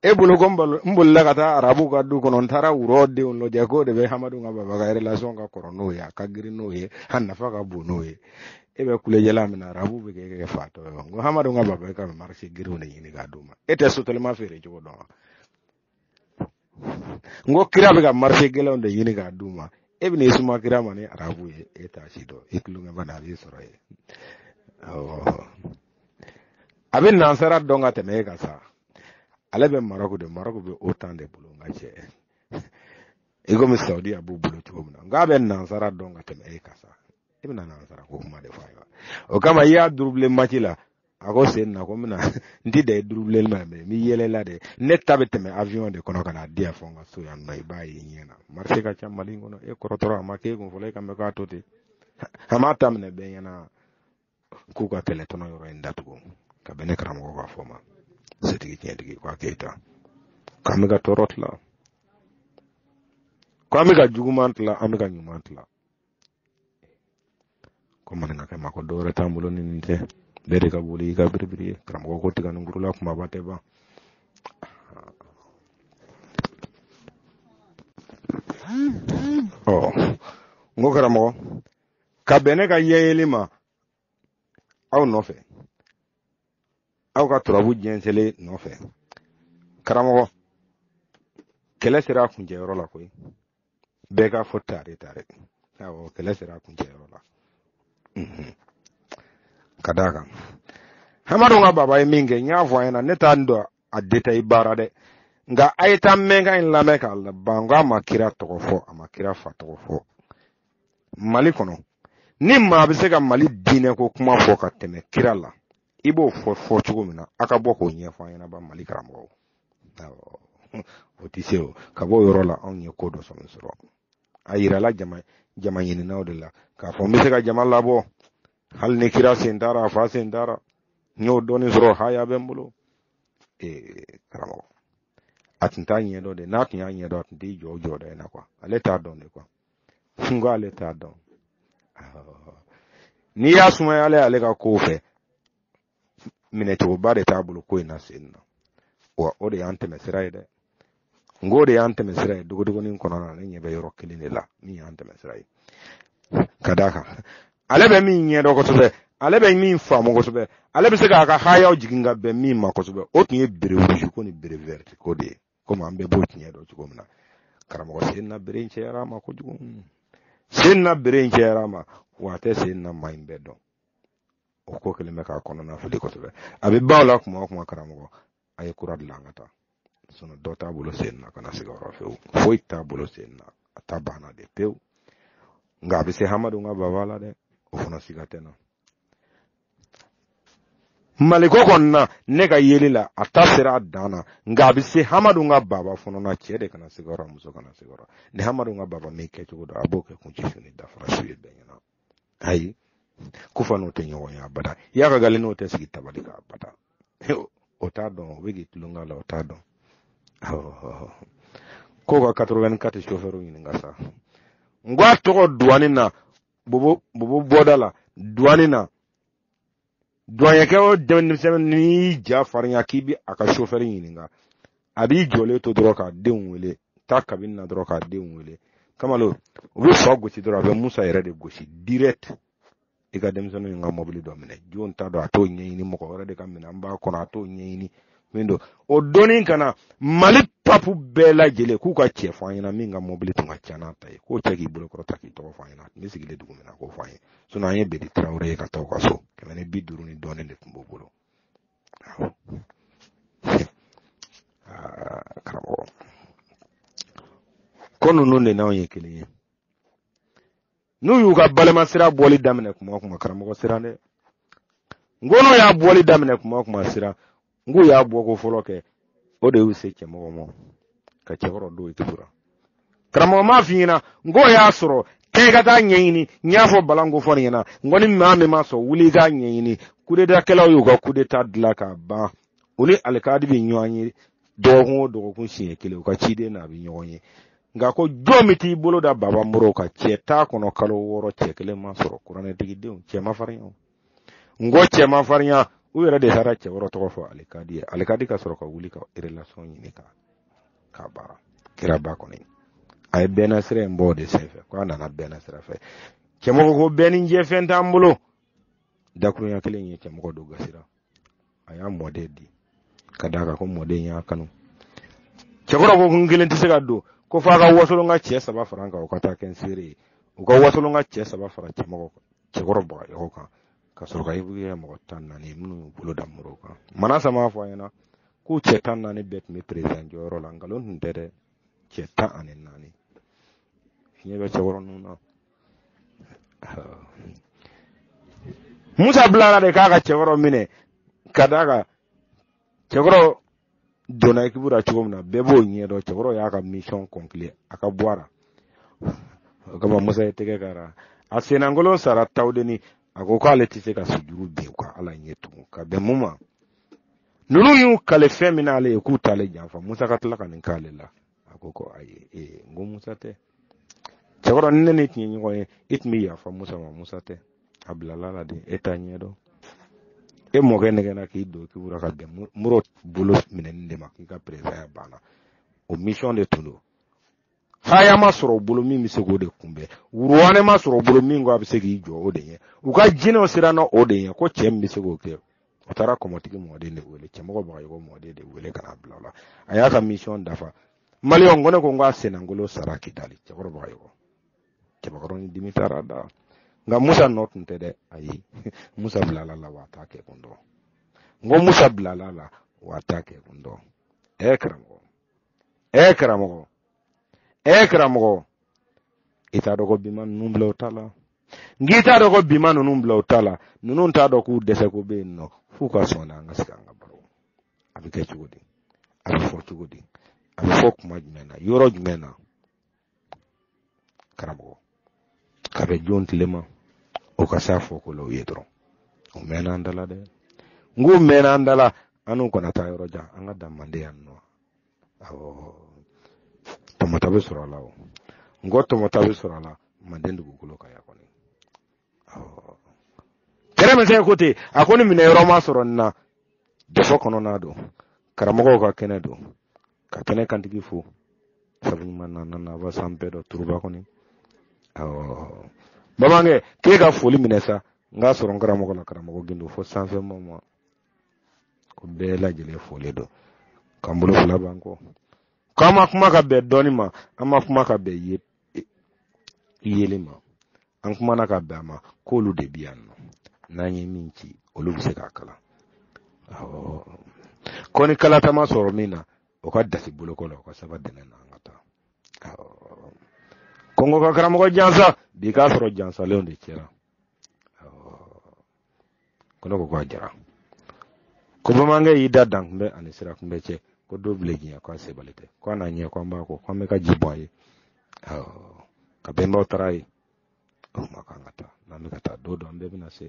e bolo ko n bolila ka taa arabu ka du kɔnɔ n taara wurɔ denw lajɛ k'o de bɛ hamadu ka baba ka relation ka kɔrɔ n'o ye a ka girin n'o ye a nafa ka bon n'o ye e bɛ kulejɛla min na arabu b'e kɛ fatɔ ye n ko hamadu ka baba ka marché girinw de ɲini k'a d'u ma e tɛ sotelima feere cogo dɔn wa n ko kira bɛ ka marché gɛlɛnw de ɲini k'a d'u ma e bɛ n'i suma kira ma ni arabu ye e t'a si dɔn e tulonkɛ bana a b'i sɔrɔ yen a bɛ nansara dɔn ka tɛmɛ e kan sa ale bɛ marɔku de marɔku bɛ o tan de bolo nka cɛ i komi sawudi a b'u bolo cogo min na nka a bɛ nansara dɔn ka tɛmɛ e kan sa e bɛna nansara ko kuma de fɔ a ye wa o kama i y'a dribbler match la a ko sen na ko mina n ti da i dribbler ma mɛ n'i yɛlɛla dɛ ne ta bɛ tɛmɛ avion de kɔnɔ ka na di yan fɔ n ka so yan nɔ i b'a ye ɲɛ na marché ka ca mali kɔnɔ e kɔrɔtɔra a ma k'e kun fɔlɔ e k'an bɛ k'a to ten a m'a ta minɛ bɛɛ ɲɛna k'u ka kɛlɛ tɔnɔ yɔrɔ in datugu ka bɛn ne karamɔgɔ ka fɔ ma setigi tiɲɛtigi ko keyita k'an bɛ ka tɔɔrɔ tila ko an bɛ ka juguman tila an bɛ ka ɲuman tila ko maninkakɛ ma ko dɔwɛrɛ t'an bolo ni nin tɛ bɛɛ de ka boli i ka biribiri ye karamɔgɔ ko tiganinkurun la kumaba tɛ ban ɔ n ko karamɔgɔ ka bɛn ne ka yɛyeli ma aw nɔfɛ aw ka turabu jɛnsɛlen nɔfɛ karamɔgɔ kɛlɛ sera a kuncɛyɔrɔ la koyi bɛɛ k'a fɔ tare tare awɔ kɛlɛ sera a kuncɛyɔrɔ la mhm. ka d'a kan hamadu ka baba ye min kɛ n y'a fɔ aw ɲɛna ne t'a dɔn a detaye baara dɛ nka a ye taa mɛnkan in lamɛn k'a laban n ko a ma kira tɔgɔ fɔ a ma kira fa tɔgɔ fɔ mali kɔnɔ ni maa bɛ se ka mali diinɛ ko kuma fɔ ka tɛmɛ kira la i b'o fɔ fɔcogo min na a ka bɔ k'o ɲɛfɔ an ɲɛnaba mali karamɔgɔw o tɛ se o ka bɔ o yɔrɔ la anw ye ko dɔ sɔrɔ sɔrɔ a yirala jama jama ɲininaw de la k'a fɔ n bɛ se ka jama labɔ hali ni kira sen t'a la a fa sen t'a la n y'o dɔɔnin sɔrɔ haya bɛ n bolo ee karamɔgɔ a tun t'a ɲɛdɔn de n'a tun y'a ɲɛdɔn a tun t'i jɔ o jɔda in na kuwa ale t'a dɔn de kuwa n ko ale t'a dɔn n'i y'a sumaya ale ale ka kow fɛ minɛcogoba de t'a bolo ko in na sen na wa o de y'an tɛmɛ sira ye dɛ n ko o de y'an tɛmɛ sira ye dogodogonin kɔnɔna na ne ɲɛ bɛ yɔrɔ kelen de la min y'an tɛmɛ sira ye ka d'a kan ale bɛ min ɲɛ dɔn kosɛbɛ ale bɛ min faamu kosɛbɛ ale bɛ se k'a ka hayaw jigin ka bɛn min ma kosɛbɛ o tun ye béret rouge ko ni béret vert ko de ye komi an bɛɛ b'o tiɲɛ dɔn cogo min na karamɔgɔ sen na béret in cayara a ma kojugu sen na béret in cayara a ma wa a tɛ sen na maa in bɛɛ dɔn o ko kelen bɛ k'a kɔnɔna fili kosɛbɛ a bɛ baw la kuma o kuma karamɔgɔ a ye kura dilan ka taa sinɔn dɔ t'a bolo sen na kana siga o rɔ fewu foyi t'a bolo sen na a ta banna de pewu nka a bɛ se hamadu ka baba la dɛ o fana siga tɛ na maliko kɔni na ne ka yeli la a ta sera a dan na nka a bɛ se hamadu ka baba fana na cɛ de kana siga a rɔ muso kana siga a rɔ ni hamadu ka baba min kɛcogo dɔn a b'o kɛ kunci su ni dafara su ye bɛɛ ɲɛna ayi kufa n'o tɛ ɲɔgɔn ye abada iyad ag ghali n'o tɛ sigi tabali kan abada o t'a dɔn o bɛ k'i tulon k'a la o t'a dɔn ko ka 84 chauffeur ɲininka sa n ko a tɔgɔ duwani na bobo bobo bɔda la duwani na duwanyɛkɛ o denmisɛnnin n'i y'i ja farinya k'i b'a ka sofɛri ɲininka a b'i jɔlen to dɔrɔn ka denw wele taa kabini na dɔrɔn ka denw wele kamalen u bɛ so gosi dɔrɔn a bɛ musa yɛrɛ de gosi direct i ka denmisɛnninw ka mɔbili dɔ minɛ jɔn ta don a t'o ɲɛɲini mɔgɔ wɛrɛ de ka minɛn b'a kɔnɔ a t'o ɲɛɲini min don o dɔnni kana mali papu bɛɛ lajɛlen k'u ka cɛ fɔ an ɲɛna min ka mɔbili tun ka ca n'a ta ye k'o cɛ k'i bolo kɔrɔta k'i tɔgɔ fɔ an ɲɛna a tun bɛ sigilen dugu min na k'o fɔ an ye sinɔn an ye bedi tarawele ye ka taa u ka so kɛmɛ ni bi duuru ni dɔɔnin de tun b'o bolo ah, karamɔgɔ ko ninnu de n'anw ye kelen ye n'u y'u ka balima sira bɔli daminɛ kuma o kuma karamɔgɔ siran dɛ n ko n'u y'a bɔli daminɛ kuma o kuma siran n k'u y'a bɔ ko fɔlɔ kɛ o de y'u se cɛmɔgɔ ma ka cɛkɔrɔ don ekipu ra karamɔgɔ m'a f'i ɲɛna n k'o y'a sɔrɔ kɛ i ka taa ɲɛɲini n y'a fɔ bala n ko fɔ nin ɲɛna n ko ni maa min ma sɔn wuli i k'a ɲɛɲini kudetakɛlaw y'u ka kudeta dilan k'a ban u ni alikadi bɛ ɲɔgɔn ye dɔgɔkun o dɔgɔkun siɲɛ kelen u ka ciden n'a bɛ ɲɔgɔn ye nka ko jɔn min t'i bolo da baba modibo kan cɛ t'a kɔnɔ kalo wɔɔrɔ cɛ kelen ma sɔrɔ kuranɛtigidenw cɛ ma farinya n ko cɛ ma farinya u yɛrɛ de taara cɛ wɔɔrɔ tɔgɔ fɔ alikadi ye alikadi ka sɔrɔ ka wuli ka relation ɲini ka ka baara kira ba kɔni a ye bɛnna sira in bɔ o de senfɛ ko a nana bɛnna sira fɛ cɛmɔgɔ ko bɛɛ ni jɛ fɛn t'an bolo dakurunya kelen ye cɛmɔgɔ don gasira a y'a mɔden di ka d'a kan ko mɔden y'a kanu cɛkɔrɔ ko n kelen tɛ se ka don ko f'a ka wasolonka cɛ saba fara n kan o ka taa kɛ n seere ye u ka wasolonka cɛ saba fara cɛmɔgɔ cɛkɔrɔ bagayɔgɔ kan ka sɔrɔ ka i buguya mɔgɔ tan naani minnu bolo da modibo kan mana sama fɔ an ɲɛna k'u cɛ tan naani bɛɛ tun bɛ perezan jɔyɔrɔ la nkalon tun tɛ dɛ cɛ tan ani naani fiɲɛ bɛ cɛkɔrɔba ninnu na musa bilara de k'a ka cɛkɔrɔ minɛ ka d'a kan cɛkɔrɔ donna ekipu la cogo min na bɛɛ b'o ɲɛ dɔn cɛkɔrɔ y'a ka misiyɔn conclure a ka bɔ a la o kama musa y'i tɛgɛ k'a la a senankolon sara tawudeni a ko k'ale tɛ se ka sujuru bin u ka ala ɲɛ tugun ka bɛn mun ma ninnu y'u kale fɛn min n'ale ye k'u t'ale janfa musa ka tila ka nin k'ale la a ko ko ayi ee n ko musa tɛ cɛkɔrɔ ni ne n'i tun ye ɲɔgɔn ye e tun bɛ yafa musa ma musa tɛ a bilala la de e t'a ɲɛdɔn e mɔkɛ nɛgɛnna k'i don ekipu ra ka bɛn modibo bolo minɛni de ma k'i ka perezaya banna o misiyɔn de tun don haya ma sɔrɔ bolo min bɛ se k'o de kunbɛn wuruwane ma sɔrɔ bolo min ko a bɛ se k'i jɔ o de ɲɛ u ka jinɛw siranna o de ɲɛ ko cɛ min bɛ se k'o kɛ u taara kɔmɔtigi mɔden de wele cɛmɔgɔ bagayɔgɔ mɔden de wele ka n'a bila a la a y'a ka misiyɔn dafa mali ko ne ko n k'a senankolon sara kidali cɛkɔrɔ bagayɔgɔ cɛkɔrɔ ni dimi taara da nka musa nɔ tun tɛ dɛ ayi musa bilala la wa t'a kɛ kun dɔn n ko musa bilala la wa t'a kɛ kun dɔn ɛɛ karamɔgɔ ɛɛ karamɔgɔ ɛɛ karamɔgɔ i t'a dɔn ko bi maa ninnu bila u ta la n k'i t'a dɔn ko bi maa ninnu bila u ta la ninnu t'a dɔn k'u dɛsɛ ko bɛ yen nɔ f'u ka sɔn na an ka sigi an ka baro a bɛ kɛ cogo di a bɛ fɔ cogo di a bɛ fɔ kuma jumɛn na yɔrɔ jumɛn na karamɔgɔ ka bɛn jɔn tile ma o ka se a fɔ ko la u ye dɔrɔn o mɛnna an dala dɛ n k'u mɛnna an dala an n'u kana taa yɔrɔ jan an ka dan manden yan nɔ tɔmɔta bɛ sɔrɔ a la o n ko tɔmɔta bɛ sɔrɔ a la manden dugukolo kan yan kɔni kɛrɛ bɛ se ko ten a ko ni minɛ yɔrɔ ma sɔrɔ nin na dɛ fo kɔnɔna don karamɔgɔw ka kɛnɛ don ka kɛnɛ kantigi fo sabu ɲuman na nana ba san bɛɛ dɔ turuba kɔni awɔ bamanankɛ k'e ka foli minɛ sa n k'a sɔrɔ n karamɔgɔ la karamɔgɔ gindo fo sanfɛ ma ko bɛɛ lajɛlen foli don k'an bolo fila b'an kɔ k'an ma kuma ka bɛn dɔnni ma an ma kuma ka bɛn yeli ma an kumana ka bɛn a ma k'olu de bi yan nɔ n'an ye min ci olu bɛ se k'a kala ko ni kalata ma sɔrɔ min na o ka dasi bolo kɔ la o ka saba dɛnɛ na an ka taa ko n ko ka karamɔgɔ jansa bi k'a sɔrɔ jansalenw de cɛra ko ne ko ko a jara ko bamanankɛ y'i da dan kunbɛ ani sira kunbɛ cɛ ko don bilen janya ko a sebali tɛ ko a n'a ɲɛ ko an b'a ko ko an bɛ ka ji bɔn a ye k'an bɛnbaw taara yen o ma kan ka taa n'an bɛ ka taa don dɔ an bɛɛ bɛna se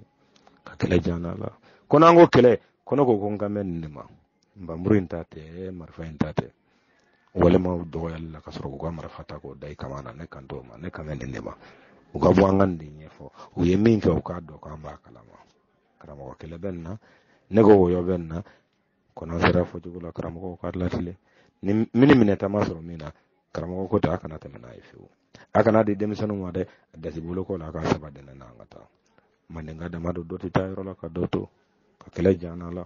ka kɛlɛ jan na la ko n'an ko kɛlɛ ko ne ko ko n kan bɛ nin de ma npanmuru in ta tɛ marifa in ta tɛ walima dɔgɔyali la ka sɔrɔ k'u ka marifa ta k'o da i kama na ne kan t'o ma ne kan bɛ nin de ma u ka bɔ an ka nin de ɲɛfɔ u ye min kɛ u k'a dɔn k'an b'a kalama karamɔgɔ kɛlɛ bɛ nin na ne ko wɔyɔ bɛ nin na ko n'an sera fɔcogo la karamɔgɔw k'a latilen ni minɛta ma sɔrɔ min na karamɔgɔ ko ta a kana tɛmɛ n'a ye fiyewu a kana di denmisɛnninw ma dɛ a dasi bolo kɔ la a k'a saba dɛnɛ na an ka taa mandenka dama don dɔ tɛ taa yɔrɔ la ka dɔ to ka kɛlɛ jan la